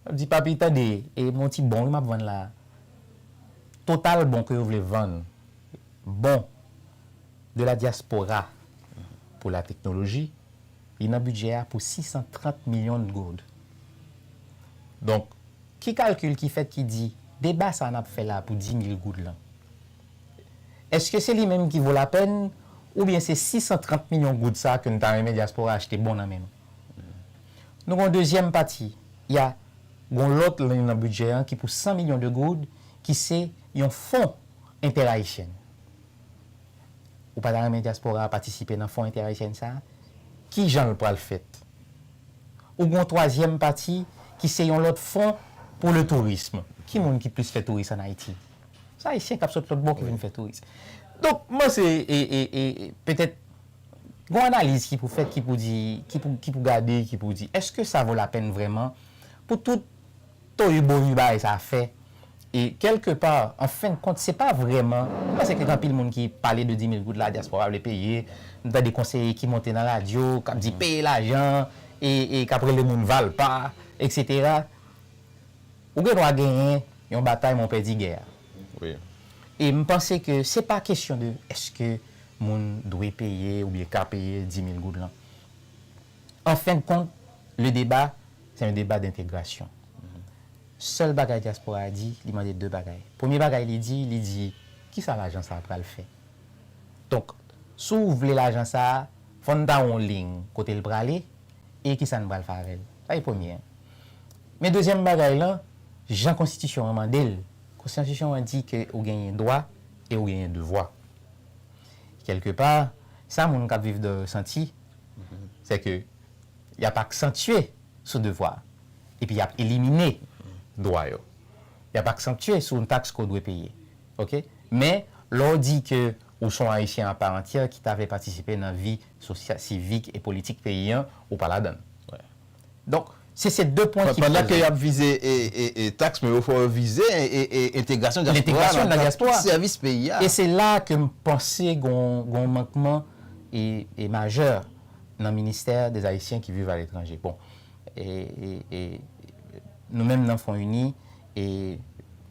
[SPEAKER 2] l ap di, papi, tande, e m yon ti bon wi m ap vann la a. Total bon ke yo vle vann, bon de la diaspora pou lateknoloji, Li nan bidjè a pou 630 milyon goud. Donk, ki kalkil ki fèt ki di deba sa a n ap fè la a pou 10 mil goud lan, èske se li menm ki vo lapèn oubyen se 630 milyon goud sa a ke n ta renmen dyaspora achte bon nan men nou? Nou gen yon dezyèm pati, y a gen yon lòt liy nan bidjè an ki pou 100 milyon de goud ki se yon fon entèrayisyen. Ou pa ta renmen dyaspora a patisipe nan Fon Entèayisyèn sa a? Ki jan l pral fèt? Ou gen yon twazyèm pati ki se yon lòt fon pou le tourisme. Ki moun ki plis fè touris ann Ayiti? Se Ayisyen k ap sot lòtbò ki vin fè touris. Donk, m panse e petèt gon analiz ki pou fèt, ki pou di, ki pou gade, ki pou di èske sa vo lapèn vrèman pou tout Toyebory bagay sa fè e kèlke pa an fen de kont se pa vrèman m panse ke gen anpil moun ki pale de 10000 goud la dyaspora vle peye m tande konseye ki monte nan radyo k ap di peye lajan e e k ap rele moun valpa eksetera ou gen dwa genyen yon batay men w pèdi gè a
[SPEAKER 1] e m
[SPEAKER 2] panse ke se pa kesyon de èske moun dwe peye oubyen ka peye 10000 goud lan. En fin de compte, le débat, c'est un débat d'intégration. Sèl bagay dyaspora a di, li mande 2 bagay. Premye bagay li di, li di, ki sa lajan sa a pral fè? Donk, si w vle lajan sa a, fò n ba w yon lign kote l prale e ki sa n pral fè avè l. Sa se premye an. Men dezyèm bagay lan, jan konstitisyon an mande l, konstitisyon an di ke ou genyen dwa e ou genyen devwa. Kèlke pa, sa moun k ap viv dèyè yo santi, Sèke y ap aksantye sou devwa epi y ap elimine dwa yo. Y ap aksantye sou yon taks ke w dwe peye. Oke? Men, lè w di ke ou se yon Ayisyen a pa antyè ki ta vle patisipe nan vi sivik e politik peyi an, ou pa ladan l. Donk, se se 2 pwen ki poze. Pandan ke y ap vize
[SPEAKER 1] taks, men yo fò yo vize entegrasyon dyaspora nan nan tout
[SPEAKER 2] sèvis peyi a. E se
[SPEAKER 1] la a ke m
[SPEAKER 2] panse gon mankman e majè nan ministè des Haïtiens qui vivent à l'étranger. Bon, e nou menm nan Fon Ini, e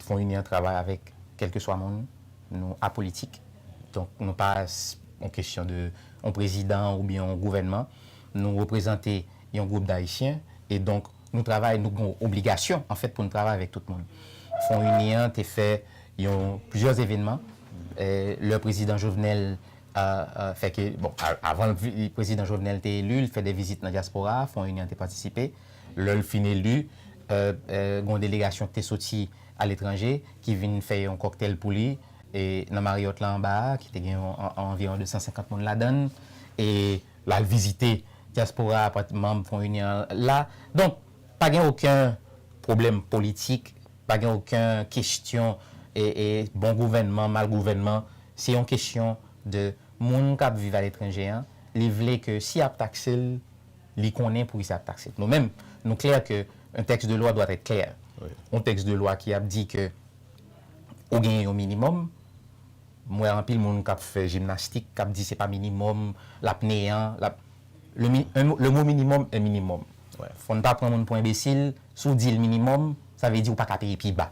[SPEAKER 2] Fon Ini an travay avèk kèlkeswa moun, nou apolitik, donk nou pa yon kesyon de yon prezidan oubyen yon gouvènman, nou reprezante. yon gwoup dayisyen e donk nou travay nou gen obligasyon anfèt pou nou travay avèk tout moun. Fon ini an te fè yon plizyè evènman lè prezidan Jovenel fè ke bon avan prezidan Jovenel te eli li fè de vizit nan dyaspora a fon ini an te patisipe lè l fin eli gen yon delegasyon ki te soti aletranje ki vin fè yon kòktèl pou li nan Marriott la anba a ki te gen anviwon 250 moun ladan l e L al vizite dyaspora a pati manm Fon Inyon an la. Donk, pa gen oken pwoblèm politik, pa gen oken kestyon bon gouvènman, mal gouvènman. Se yon kestyon de moun k ap viv aletranje an, li vle ke si y ap takse l, li konnen poukisa y ap takse l. Nou menm, nou klè ke un texte de loi doit être clair. Yon tèks de
[SPEAKER 1] lwa ki
[SPEAKER 2] ap di ke ou genyen yon minimòm, M wè anpil moun kap fè jimnastik kap di se pa minimòm lap neyan lap le mi un le mot minimum est minimum fòn pa pran
[SPEAKER 1] moun pou
[SPEAKER 2] enbesil si w dil minimòm sa vle di ou paka peye pi ba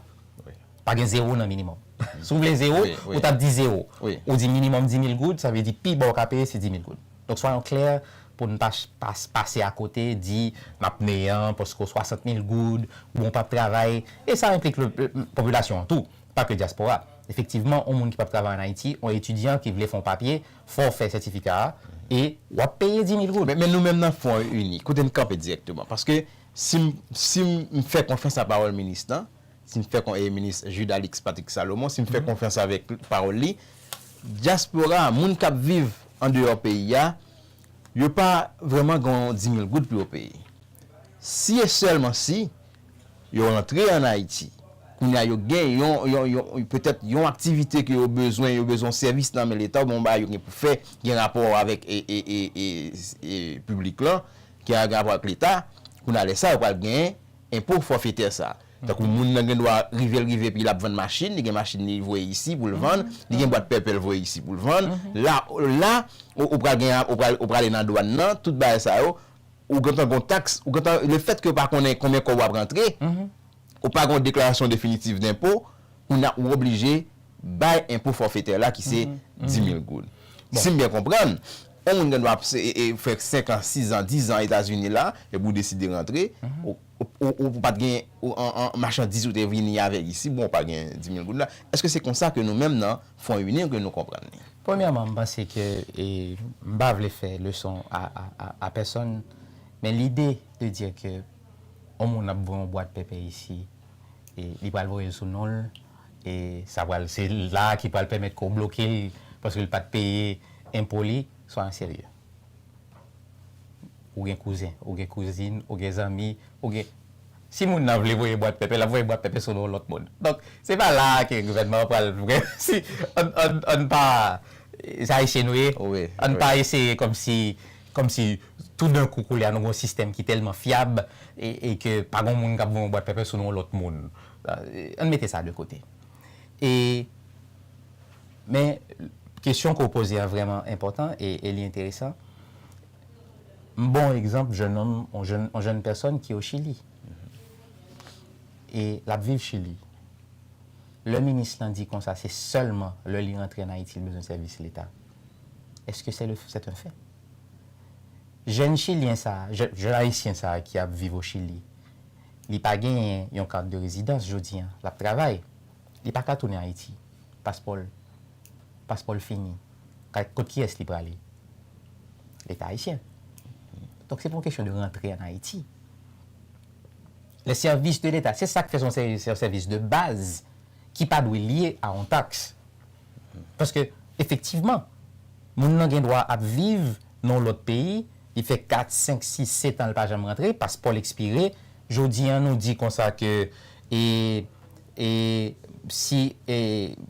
[SPEAKER 2] pa gen
[SPEAKER 1] zero nan
[SPEAKER 2] minimòm si w vle zero ou tap di zero ou di minimòm
[SPEAKER 1] dimil
[SPEAKER 2] goud sa vle di pi ba w ka peye se dimil goud donk swayon klè pou n pa pase akote di nap neyan paske w swasantmil goud bon w pap travay e sa enplik popilasyon an tou Pa ke dyaspora. Efektivman, on moun ki pap travay an Ayiti, on etidyan ki vle fè on papye, fò w fè sètifika a e w ap peye 10 mil goud. Men nou menm nan Fwon
[SPEAKER 1] Ini, kote n kanpe dirèkteman? Paske si m si m fè konfyans a pawòl minis lan, si m fè kon e minis Jude Alix Patrick Salomon, si m fè konfyans avèk pawòl li, dyaspora a, moun k ap viv andeyò peyi a, yo pa vrèman gen on 10 mil goud pou yo peye. Si e sèlman si, Yo rantre an Ayiti. Kounye a yo gen yon, yon, yon, petèt yon aktivite ke yo bezwen, yo bezwen yon sèvis nan men leta oubyen yon bagay yo gen pou fè ki gen rapò avèk e, e, e, e, e piblik lan, ki gen rapò ak leta. Kounye a lè sa yo pral gen enpo fòfetè sa. Tankou moun nan gen dwa rive l rive epi l ap vann machin, li gen machin li voye isi pou l vann, li gen bwat pèpè l voye isi pou l vann. La, la ou pral gen, ou pral, ou prale nan dwàn nan, tout bagay sa yo, ou gentan gon tax, ou gentan, le fèt ke ou pa konnen konbyen kòb wap rantre, ou pa gon deklarasyon definitif denpo, kounye a ou oblije bay enpo fòfetè la ki se 10000 goud. Sim byen konprann, on moun gen dwa ap fè 5 an, 6 an, 10 an Etazini la, epi ou deside rantre, ou pat gen machandiz ou te vini avèk isi, bon ou pa gen 10000 goud la, eske se konsa ke nou menm nan. Fon uni ke nou konprann li. Premyèman, m panse
[SPEAKER 2] ke m pa vle fè leson a pèsonn, men lide de dire ke yon moun ap voye yon bwat pèpè isi, li pral voye l sou non l, e sa pral, se la a ki pral pèmèt ke w bloke l paske l pa t peye enpo li. Swa serye. Ou gen kouzen, ou gen kouzin, ou gen zanmi, ou gen. Si moun nan vle voye bwat pèpè, l ap voye bwat pèpè sou non lòt moun. Donk, se pa la a ke gouvènman an pral vre. Si, ann, ann, ann pa. Se Ayisyen nou ye. Wi, wi. Ann pa eseye kòmsi, kòmsi toudenkou koulye a nou gen yon sistèm ki tèlman fyab e, e ke pa gen yon moun k ap voye yon bwat pèpè sou non yon lòt moun. Ann mete sa de kote. E. Men, kesyon ke w poze a vrèman enpòtan e li enteresan. M ba w yon egzanp jennonm, yon jenn pèsòn ki o Chili. E l ap viv Chili. Lè minis lan di konsa se sèlman lè li rantre an Ayiti li bezwen sèvis Leta. Eske sè le, sèt en fè? Jenn chilyen sa a, jenn ayisyen sa a ki ap viv o Chili, li pa genyen yon kat de rezidans jodi an. L ap travay. Li paka tounen ayiti paspòl paspòl fini kot kiyès li prale leta ayisyen donk se pa yon kesyon de rantre an ayiti les services de l'etat se sak fè son sèvis de baz ki pa dwe lye a yon taks paske efektivman moun nan gen dwa ap viv nan yon lòt peyi li fè 4 5 6 7 an li pa janm rantre paspòl ekspire jodi an nou di konsa ke e E si e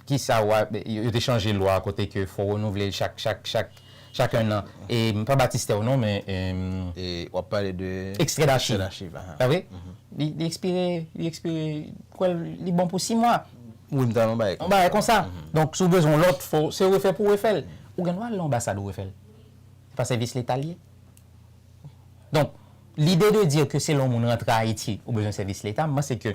[SPEAKER 2] ki sa ou a yo te chanje lwa kote ke fò renouvle l chak chak chak chak 1 an e pa batistè ou non men e. E w ap
[SPEAKER 1] pale de. Ekstrè dachiv. Ekstrè dachiv
[SPEAKER 2] a ha. Pa vre? Li li ekspire li ekspire kwè l li bon pou 6 mwa. Wi m tande yon bagay konsa. Yon
[SPEAKER 1] bagay konsa.
[SPEAKER 2] Donk si w bezwen yon lòt fò se refè pou refè l. Ou gen dwa al nan anbasad ou refè l. Se pa sèvis leta l ye. Donk lide de dire ke selon moun rantre Ayiti ou bezwen sèvis leta m panse ke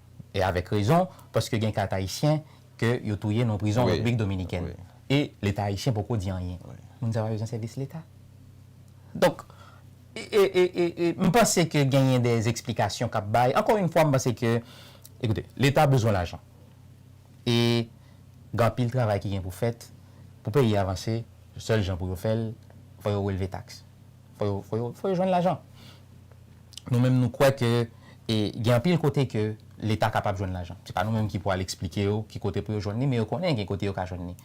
[SPEAKER 2] e avèk rezon, paske gen kat ayisyen ke yo touye nan prizon Repiblik Dominikèn e leta ayisyen poko di anyen. Moun sa pa bezwen sèvis leta? Donk, e m panse ke genyen de eksplikasyon k ap bay, ankò yon fwa m panse ke, ekoute, leta bezwen lajan e gen anpil travay ki gen pou fèt pou peyi a vanse, sèl jan pou yo fè l, fò yo relve taks. Fò yo jwenn lajan. Nou menm nou kwè ke gen anpil kote ke leta kapab jwenn lajan. Se pa nou menm ki pou al eksplike yo ki kote pou yo jwenn li, men yo konnen gen kote yo ka jwenn li.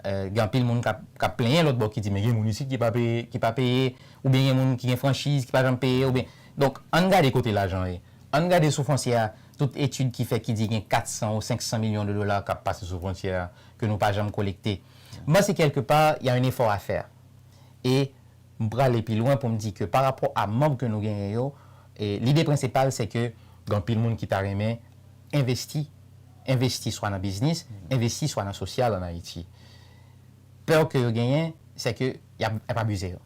[SPEAKER 2] Gen anpil moun kap plenyen lòt bò ki di men gen moun isit ki pa peye, ki pa peye, oubyen gen moun ki gen franchiz ki pa janm peye oubyen. Donk ann gade kote lajan ye. Ann gade sou fwontyè a tout etid ki fèt ki di gen 400 ou 500 milyon de dola kap pase sou fwontyè a ke nou pa janm kolekte. Mwen panse kèlke pa ya yn efò a fè. E M prale pi lwen pou m di ke pa rapò a manb ke nou genyen yo, lide prensipal se ke gen anpil moun ki ta renmen envesti, envesti swa nan biznis, envesti swa nan sosyal an Ayiti. Pè ke yo genyen se ke y ap abize yo.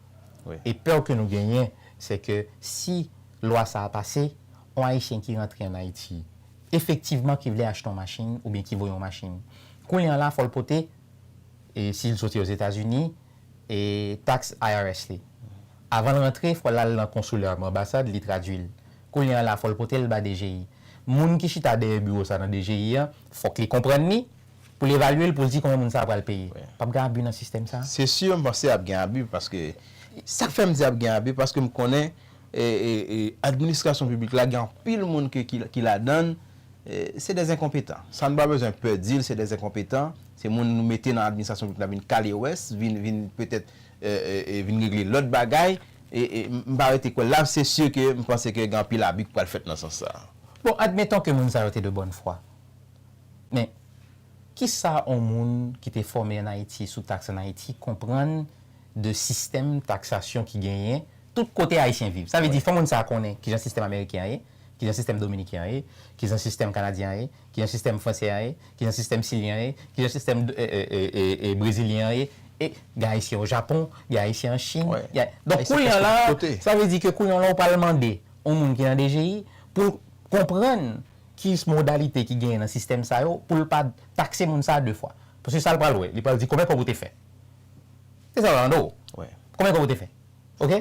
[SPEAKER 2] E pè
[SPEAKER 1] ke nou genyen
[SPEAKER 2] se ke si lwa sa a pase, yon Ayisyen ki rantre an Ayiti, efektivman ki vle achte yon machin oubyen ki voye yon machin, kounye an la fò l pote, si l soti Ozetazini, tax IRS li. Avan l rantre fò l al nan konsilè m, anbasad, li tradui l. Kounye a la fò l pote l ba DGI. Moun ki chita dèyè biwo sa nan DGI an, fòk li konprann li, pou l evalye l, pou l di konbyen moun sa a pral peye. Pa p gen abi nan sistèm sa? Se sûr m panse ap
[SPEAKER 1] gen abi paske, sa k fè m di ap gen abi paske m konnen administrasyon piblik la gen anpil moun ke ki ladan l Se des enkonpetan. Sa nou pa bezwen pè di l se des enkonpetan. Se moun nou mete nan administrasyon piblik la vin kale wès, vin petèt vin regle lòt bagay. M pa rete kwè l la. Se si ke m panse ke gen anpil abi ki pral fèt nan sans sa. Bon, admeton ke
[SPEAKER 2] moun sa yo te de bòn fwa. Men, kisa yon moun ki te fòme an Ayiti sou taks an Ayiti konprann de sistèm taksasyon ki genyen tout kote Ayisyen viv. Sa vle di fò moun sa a konnen kijan sistèm ameriken an ye, kijan sistèm dominiken an ye, kijan sistèm kanadyen an ye, kijan sistèm fransè an ye, kijan sistèm silyen an ye, kijan sistèm brezilyen an ye, e gen Ayisyen o Japon, gen Ayisyen an Chin, gen Donk kounye
[SPEAKER 1] an la,
[SPEAKER 2] sa vle di ke kounye an la ou pral mande yon moun ki nan DGI pou l konprann ki modalite ki genyen nan sistèm sa yo pou l pa takse moun sa a de fwa. Paske sa l pral wè, li pral di konbyen kòb ou te fè? Se sa yo mande w. Konbyen kob ou te
[SPEAKER 1] fè?
[SPEAKER 2] Ok.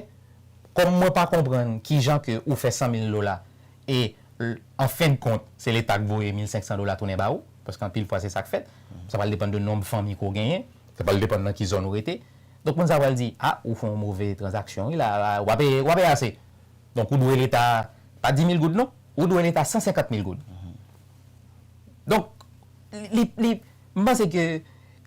[SPEAKER 2] Kòm mwen pa konprann kijan ke ou fè 100 mil dola e an fen de kont se leta k voye 1500 dola tounen ba ou, paske anpil fwa se sa k fèt. Sa pral depann de nonb fanmi ke w genyen. Sa pral depann nan ki zòn ou rete. Donk moun sa yo pral di, a, ou fè yon move tranzaksyon wi la, ou pa peye, ou pa peye ase. Donk ou dwe leta, pa 10 mil goud non, ou dwe leta 150 mil goud. Donk li, li, m panse ke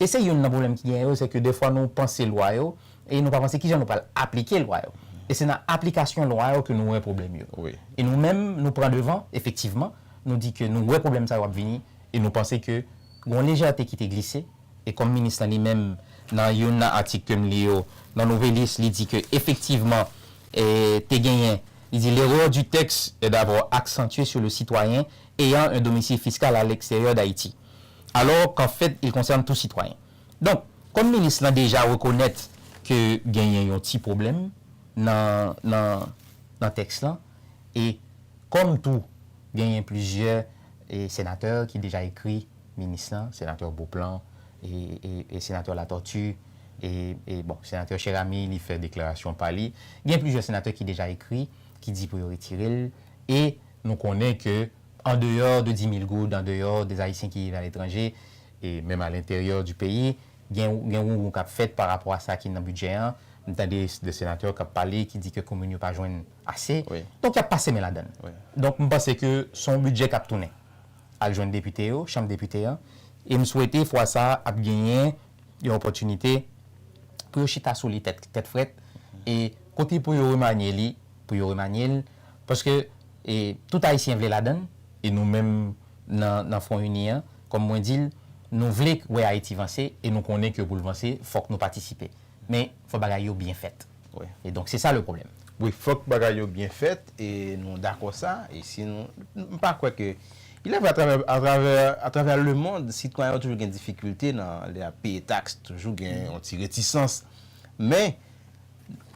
[SPEAKER 2] E se youn nan pwoblèm ki genyen yo, se ke dèfwa nou panse lwa yo, e nou pa panse kijan nou pral aplike lwa yo. E se nan aplikasyon lwa yo ke nou wè pwoblèm yo. E nou menm,
[SPEAKER 1] nou
[SPEAKER 2] pran devan, efektivman, nou di ke nou wè pwoblèm sa yo ap vini, e nou panse ke gon lejète ki te glise, e kòm minis lan li menm, nan youn nan atik ke m li yo, nan Nouvelliste, li di ke efektivman, e te genyen, li di, l'erreur du texte est d'avoir accentué sur le citoyen ayant un domicile fiscal à l'extérieur d'Haïti. alors qu'en fait il concerne tout citoyen. Donk, kòm minis lan deja rekonèt ke genyen yon ti pwoblèm nan nan nan tèks lan e kòm tou genyen plizyè senatè ki deja ekri minis lan, senatè Beauplan e senatè Latortue e bon senatè Cheramy li fè deklarasyon pa li, gen plizyè senatè ki deja ekri ki di pou yo retire l e nou konnen ke An deyò de 10.000 goud, an deyò de Ayisyen ki viv aletranje, e menm a lenteryè di peyi, gen gen wounwoun k ap fèt pa rapò a sa ki nan bidjè an. M tande de senatè k ap pale ki di ke komin yo pa jwenn ase. Donk y ap pase men ladan l. Donk m panse ke s on bidjè k ap tounen al jwenn depite yo, chanm depite an, e m swete fwa sa a ap genyen yon opòtinite pou yo chita sou li tèt frèt e kote pou yo remanye li, pou yo remanye l, paske tout Ayisyen vle ladan l e nou menm nan Fwon Ini an, kòm mwen di l, nou vle wè Ayiti vanse e nou konnen ke pou l vanse fòk nou patisipe. Men, fò bagay yo byen fèt. Wi e donk se sa le pwoblèm. Wi fòk bagay
[SPEAKER 1] yo byen fèt e nou dakò sa e si nou m pa kwè ke ilèvre atravè atravè atravè lemond sitwayen yo toujou gen difikilte nan lè y ap peye taks toujou gen yon ti retisans men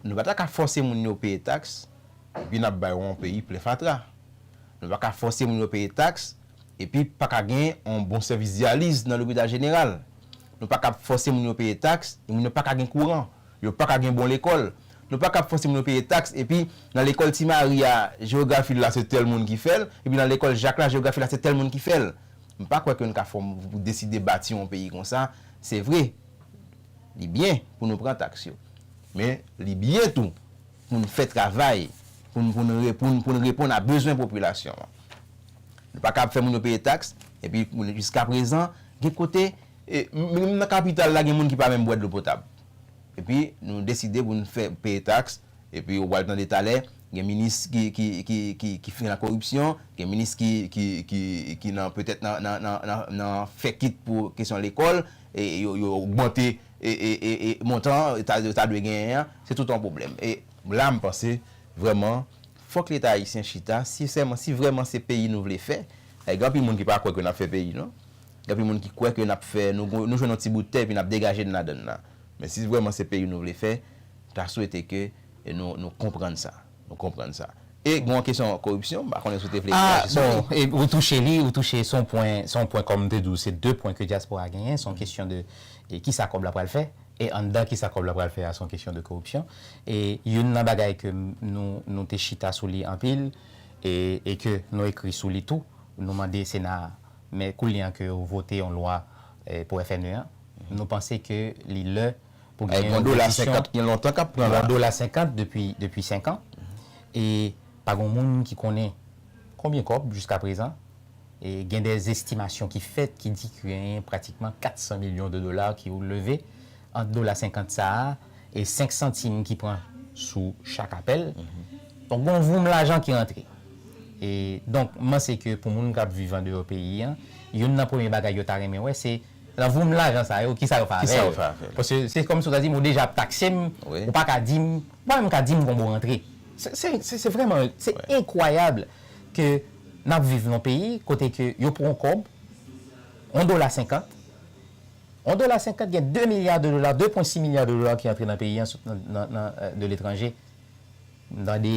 [SPEAKER 1] nou pa ta ka fòse moun yo peye taks epi n ap bay yon peyi plen fatra nou pa ka fòse moun yo peye taks epi pa ka gen yon bon sèvis dyaliz nan lopital jeneral nou pa ka fòse moun yo peye taks e moun yo pa ka gen kouran. Yo pa ka gen bon lekòl. Nou pa ka ap fòse moun yo peye taks epi nan lekòl Ti Mari a jewografi l la se tèl moun ki fè l epi nan lekòl Jak la jewografi l la se tèl moun ki fè l. M pa kwè ke n ka fè yon pou deside bati yon peyi konsa. Se vre, li byen pou nou pran taks yo. Men, li byen tou pou n fè travay pou n pou n pou n pou n reponn a bezwen popilasyon an. Nou pa ka ap fè moun yo peye taks epi jiskaprezan gen kote E menm nan kapital la gen moun ki pa menm bwè dlo potab. Epi nou deside pou nou fè peye taks, epi ou pral tande talè gen minis ki fin nan koripsyon, gen minis ki nan petèt nan fè kit pou kesyon lekòl, yo ogmante montan yo ta dwe genyen an, se tout yon pwoblèm. E la m panse vrèman fòk leta ayisyen chita, si vrèman se peyi nou vle fè, paske gen anpil moun ki pa kwè ke n ap fè peyi non. Gen anpil moun ki kwè ke nap fè, nou jwenn yon ti bout tè epi nap degaje n ladan la. Men si vrèman se peyi nou vle fè, m ta swete ke nou konprann sa. Nou konprann sa. E gen yon kesyon koripsyon, m pa konnen si w te vle reyaji sou li. Ah bon,
[SPEAKER 2] ou touche li, ou touche, se yon pwen, se yon pwen kòm m te di w, se 2 pwen ke dyaspora a genyen, se yon kesyon de kisa kòb la pral fè, e anndan kisa kòb la pral fè a, se yon kesyon de koripsyon. E youn nan bagay ke nou, nou te chita sou li anpil, e ke nou ekri sou li tou, nou mande Sena a, Men koulye a ke yo vote yon lwa pou FNE a, nou panse ke li lè pou gen yon repetisyon. Yon
[SPEAKER 1] lontan kap pran la. Yon dola senkant depi
[SPEAKER 2] senkan. E pa gen yon moun ki konnen konbyen kòb jiska prezan. E gen de estimasyon ki fèt ki di ki gen pratikman 400 milyon de dola ki ou leve ant dola senkant sa a. e 5 santim ki pran sou chak apèl. Donk gon voum lajan ki rantre. E donk m panse ke pou moun k ap viv andeyò peyi an, youn nan premye bagay yo ta renmen wè se nan voum lajan sa yo kisa yo fè avè l. Paske se kòm si ou ta di m ou deja ap takse m, ou pa ka di m, ou pa menm ka di m konbe w rantre. Se se vrèman se enkwayab ke n ap viv nan yon peyi kote ke yo pran yon kòb, yon dola senkant, On dola 50 gen 2 milya de dola, 2 pwen 6 milya de dola ki antre nan peyi an sot nan de letranje. M tande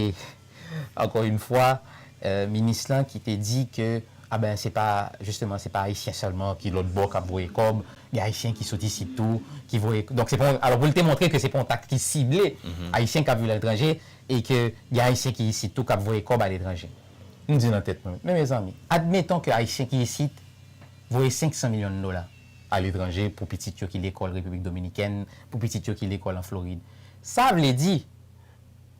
[SPEAKER 2] ankò yn fwa minis lan ki te di ke a ben se pa jisteman se pa ayisyen sèlman ki lòt bò k ap voye kòb, gen ayisyen ki sot isit tou ki voye donk se pa yon alò pou l te montre ke se pa yon taks ki sible ayisyen k ap viv aletranje e ke gen ayisyen ki isit tou k ap voye kòb aletranje. M di nan tèt mwen men mezanmi admeton ke ayisyen ki isit Voye 500 milyon dola a letranje pou pitit yo ki lekòl Repiblik Dominikèn, pou pitit yo ki lekòl an Florid. Sa vle di,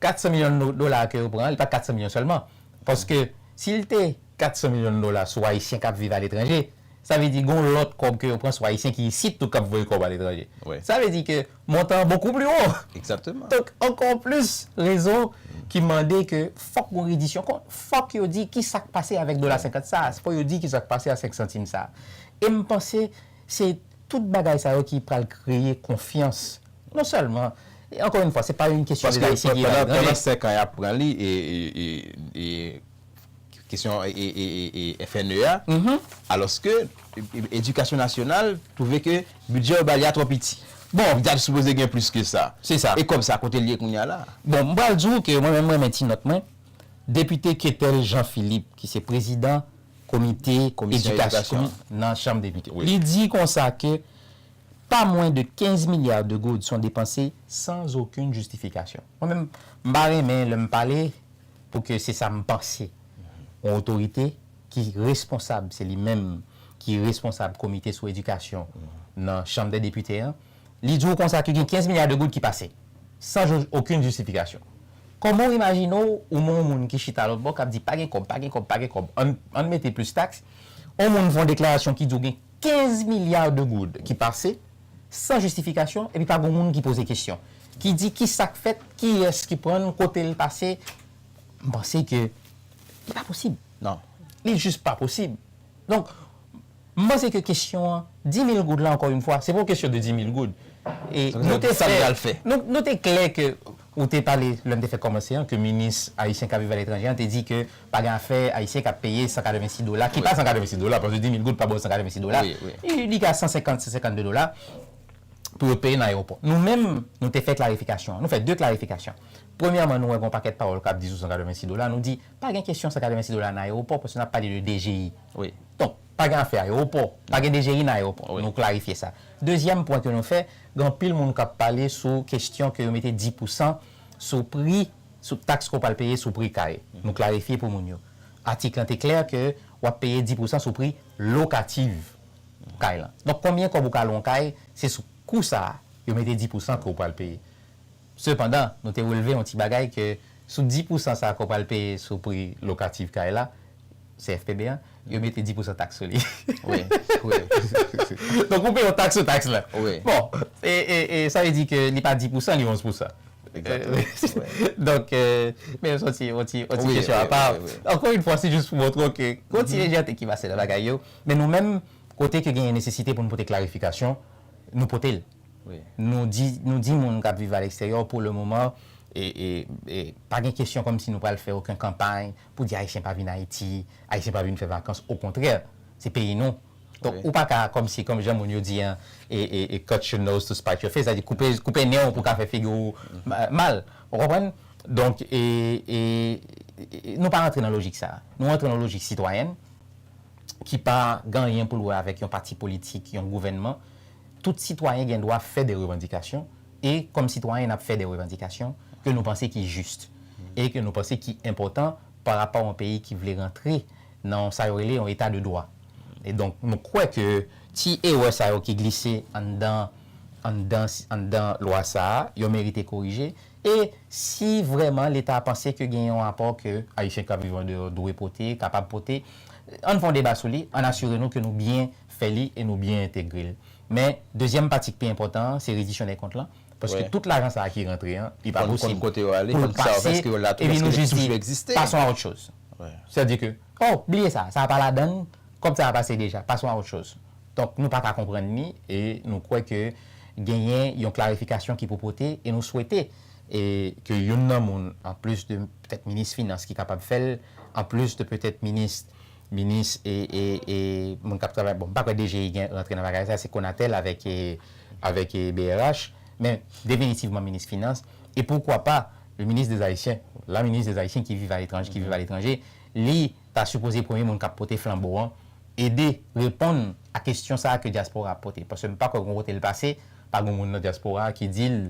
[SPEAKER 2] 400 milyon dola a ke yo pran an, li pa t 400 milyon sèlman. Paske, si l te 400 milyon dola sou Ayisyen k ap viv aletranje, sa vle di gen yon lòt kòb ke yo pran sou Ayisyen ki isit tou k ap voye kòb aletranje. Sa vle di ke montan an bokou pli wo. Exactement. Donk
[SPEAKER 1] ankò plis
[SPEAKER 2] rezon ki mande ke fòk gon redisyon kont. Fòk yo di ki sa k pase avèk dola 50 sa a. Fòk yo di ki sa k pase a 5 santim sa a. E m panse se tout bagay sa yo ki pral kreye konfyans non sèlman, ankò yon fwa se pa yon kesyon de Ayisyen ki al etranje. Paske pandan 5 an y ap
[SPEAKER 1] pran li e kesyon FNE a, alòske edikasyon nasyonal twouve ke bidjè yo ba li a twò piti. Bon. Li ta sipoze gen plis ke sa. Se sa. E kòb sa, kote
[SPEAKER 2] li ye kounye
[SPEAKER 1] a la a? Bon, m pral di w ke
[SPEAKER 2] mwen menm m renmen ti nòt mwen. Depite Ketel Jean Philippe ki se prezidan komite edikasyon nan chanm depite, li di konsa ke pa mwen de 15 milya de goud son depanse san zokenn jistifikasyon. Mwen menm, m pa renmen lè m pale. pou ke se sa m panse yon otorite ki responsab se li menm ki responsab komite sou edikasyon nan chanm dè depite an li di w konsa ke gen 15 milya de goud ki pase san jo okenn jistifikasyon kòman w imajine w ou men yon moun ki chita lòt bò k ap di pa gen kòb pa gen kòb pa gen kòb an n mete plis taks yon moun fè yon deklarasyon ki di w gen 15 milliards de goud ki pase san jistifikasyon epi pa gon moun ki poze kesyon, ki di ki sa k fèt, kiyès ki pran l, kote l pase. M panse ke li pa posib. Non. Li
[SPEAKER 1] jis pa
[SPEAKER 2] posib. Donk, m panse ke kesyon an, 10 mil goud la ankò yon fwa, se pa yon kesyon de 10 mil goud. E nou te fè, nou te klè ke. Ou te pale, lè m te fèk kòmanse an, ke minis ayisyen k ap viv aletranje an te di ke pa gen afè ayisyen k ap peye 186 dola, ki pa 186 dola, paske 10 mil goud pa ba w 186 dola, li ka 150, 152 dola, pou yo peye nan ayewopò. Nou menm, nou te fè klarifikasyon an. Nou fè de klarifikasyon. Premyèman, nou wè gen yon pakèt pawòl k ap di sou 186 dola, nou di, pa gen kesyon 186 dola nan ayewopò, paske n ap pale de DGI. Donk.
[SPEAKER 1] Pa gen afè
[SPEAKER 2] ayewopò, pa gen DGI nan ayewopò. Nou klarifye sa. Dezyèm pwen ke nou fè, gen anpil moun k ap pale sou kestyon ke yo mete 10 pou san sou pri, sou taks ke w pral peye sou pri kare. Nou klarifye pou moun yo. Atik lan te klè ke w ap peye 10 pou san sou pri lokativ kay lan. Donk konbyen kòb ou ka lwe yon kay, se sou kou sa a yo mete 10 pou san ke w pral peye. Sepandan, nou te relve yon ti bagay ke sou 10 pousan sa ke w pral peye sou pri lokatif kay la, CFPB an, yo mete 10 pousan taks sou li.
[SPEAKER 1] Donk
[SPEAKER 2] ou peye yon taks sou taks la. Bon, e sa vle di ke li pa 10 pousan, li 11 pousan.
[SPEAKER 1] Donk,
[SPEAKER 2] men se yon ti kesyon apa. Ankò yon fwa, se jis pou montre w ke gen yon ti lejète ki pase nan bagay yo. Men nou menm, kote ke genyen nesesite pou nou pote klarifikasyon, nou pote l.
[SPEAKER 1] Nou
[SPEAKER 2] di moun k ap viv aleksteryò pou le moman pa gen kesyon kòmsi nou pral fè oken kanpay pou di Ayisyen pa vin Ayiti, Ayisyen pa vin fè vakans. Okontrè, se peyi nou. Donk, ou pa ka kòmsi, kòm jan moun yo di an, cut your nose to spite your face, sa di koupe nen w pou w ka fè figi w mal. Ou konprann? Donk, nou pa rantre nan lojik sa a. Nou rantre nan lojik sitwayèn ki pa gen anyen pou l wè avèk yon pati politik, yon gouvènman. Tout sitwayen gen dwa fè de revandikasyon e kòm sitwayen n ap fè de revandikasyon ke nou panse ki jis e ke nou panse ki enpòtan pa rapò yon peyi ki vle rantre nan sa yo rele yon eta de dwa. E donk nou kwè ke ti erè sa yo ki glise anndan anndan anndan lwa sa a yo merite korije e si vrèman leta panse ke gen yon apò ke ayisyen k ap viv andeyò dwe pote kapab pote ann fè yon deba sou li ann asire nou ke nou byen fè li e nou byen entegre l. Men, dezyèm pati k pi enpòtan an, se redisyon dè kont lan, paske tout lajan sa a ki rantre an, li pa posib pou l pase, epi nou jis
[SPEAKER 1] di,
[SPEAKER 2] passons à autre
[SPEAKER 1] chose.
[SPEAKER 2] Sètadi ke, oh, bliye sa, sa a pa ladan l, kòb sa a pase deja, passons à autre chose. Donk, nou pa ka konprann li e nou kwè ke genyen yon klarifikasyon ki pou pote e nou swete ke youn nan moun, anplis de petèt minis finans ki kapab fè l, anplis de petèt minis Minis e moun kap travay, bon m pa kwè DGI gen rantre nan bagay sa, se Conatel avèk brh, men definitivman minis finans, e poukwa pa le ministre des Haïtiens, la ministre des Haïtiens ki viv aletranje, li ta sipoze premye moun kap pote flanbo an, ede reponn a kestyon sa ke dyaspora ap pote, paske m pa kwè gon kote l pase, pa gon moun nan dyaspora ki di l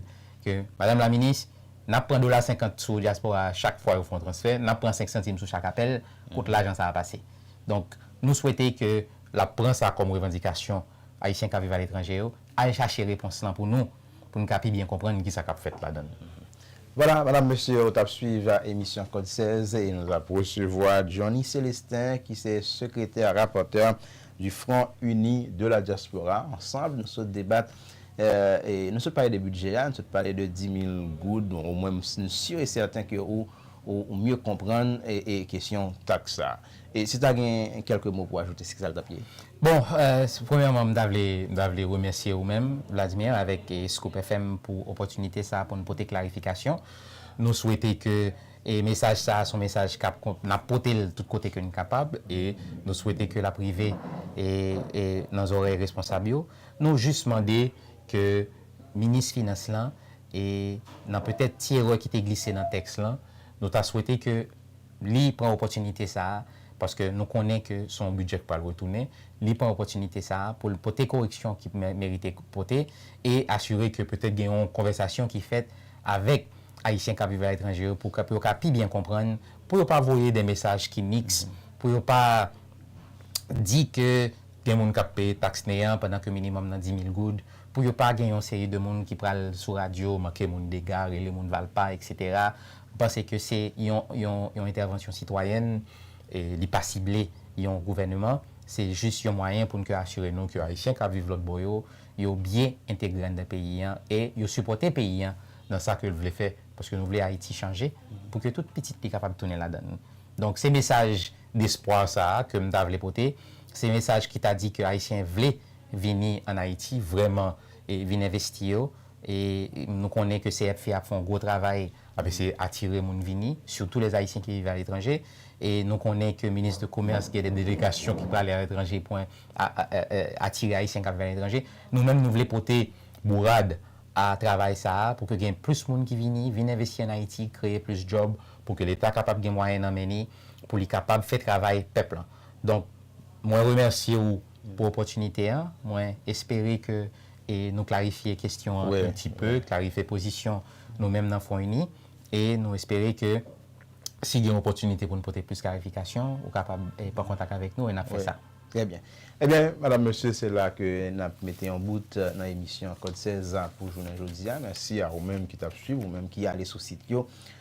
[SPEAKER 2] ke madam la minis, nap pran dola senkant sou dyaspora chak fwa yo fon transfè, nap pran senk santim sou chak apèl, kot lajan sa a pase. Donk, nou swete ke l ap pran sa kòm revandikasyon Ayisyen k ap viv aletranje yo, al chache repons lan pou nou, pou n ka pi byen konprann kisa k ap fèt ladan l. Vwala,
[SPEAKER 1] medam, mesye, ou t ap swiv emisyon Kòd 16 e nou ap resevwa Johnny Célestin ki se sekretè rapòtè du Front Uni de la Diaspora. Ansanb, nou sot debat, nou sot pale de bidjè a, nou sot pale de 10 mil goud, ou mwen m si sure et certain ke ou, ou mye konprann kesyon taks sa. E si ta gen kèlke mo pou ajoute, se kisa l t ap ye? Bon,
[SPEAKER 2] premyèman, m ta vle, m ta vle remèsye ou menm, Vladimir, avèk Scoop FM pou opòtinite sa pou n pote klarifikasyon. Nou swete ke mesaj sa se yon mesaj k ap, n ap pote l tout kote ke n kapab e nou swete ke l ap rive nan zòrèy responsab yo. Nou jis mande ke minis finans lan. E nan petèt ti erè ki te glise nan tèks lan, nou ta swete ke li pran opòtinite sa a, paske nou konnen ke se yon bidjè ki pral retounen, li pran opòtinite sa a pou l pote koreksyon ki merite pote e asire ke petèt gen yon konvèsasyon ki fèt avèk Ayisyen k ap viv aletranje yo pou yo ka pi byen konprann, pou yo pa voye de mesaj ki miks, pou yo pa di ke. Gen moun k ap peye taks neyan pandan ke minimòm nan 10 mil goud, pou yo pa gen yon seri de moun ki pral sou radyo manke moun dega, rele moun valpa, eksetera. M panse ke se yon yon entèvansyon sitwayèn, li pa sible yon gouvèneman, se jis yon mwayen pou n ke asire nou ke Ayisyen k ap viv lòtbò yo, yo byen entegre anndan peyi an e yo sipòte peyi an nan sa ke l vle fè, paske nou vle Ayiti chanje pou ke tout pitit li kapab tounen ladann. Donk se mesaj. Despwa sa a ke m ta vle pote, se mesaj ki ta di ke Ayisyen vle vini an Ayiti vrèman e vin envesti yo e nou konnen ke CEPFI ap fè yon gwo travay, ap eseye atire moun vini, sitou les Haïtiens qui vivent à l'étranger, e nou konnen ke Minis de Komès gen de delegasyon ki prale a letranje pou atire Ayisyen kap viv a letranje. Nou menm nou vle pote bourad a travay sa a pou ke gen plis moun ki vini, vin envesti an Ayiti, kreye plis djòb, pou ke Leta kapab gen mwayen nan men ni, pou li kapab fè travay pèp lan. Donk, mwen remèsye ou pou opòtinite an. Mwen espere ke nou klarifye kestyon an un ti peu, klarifye pozisyon nou menm nan Fwon Ini. E nou espere ke si gen opòtinite pou nou pote plis klarifikasyon, ou kapab pran kontak avèk nou e n ap fè sa. Trè byen.
[SPEAKER 1] Ebyen, madam, mesye, se la ke n ap mete yon bout nan emisyon Kòd 16 pou jounen jodi a. Mèsi a ou menm ki t ap suiv, ou menm ki ale sou sit yo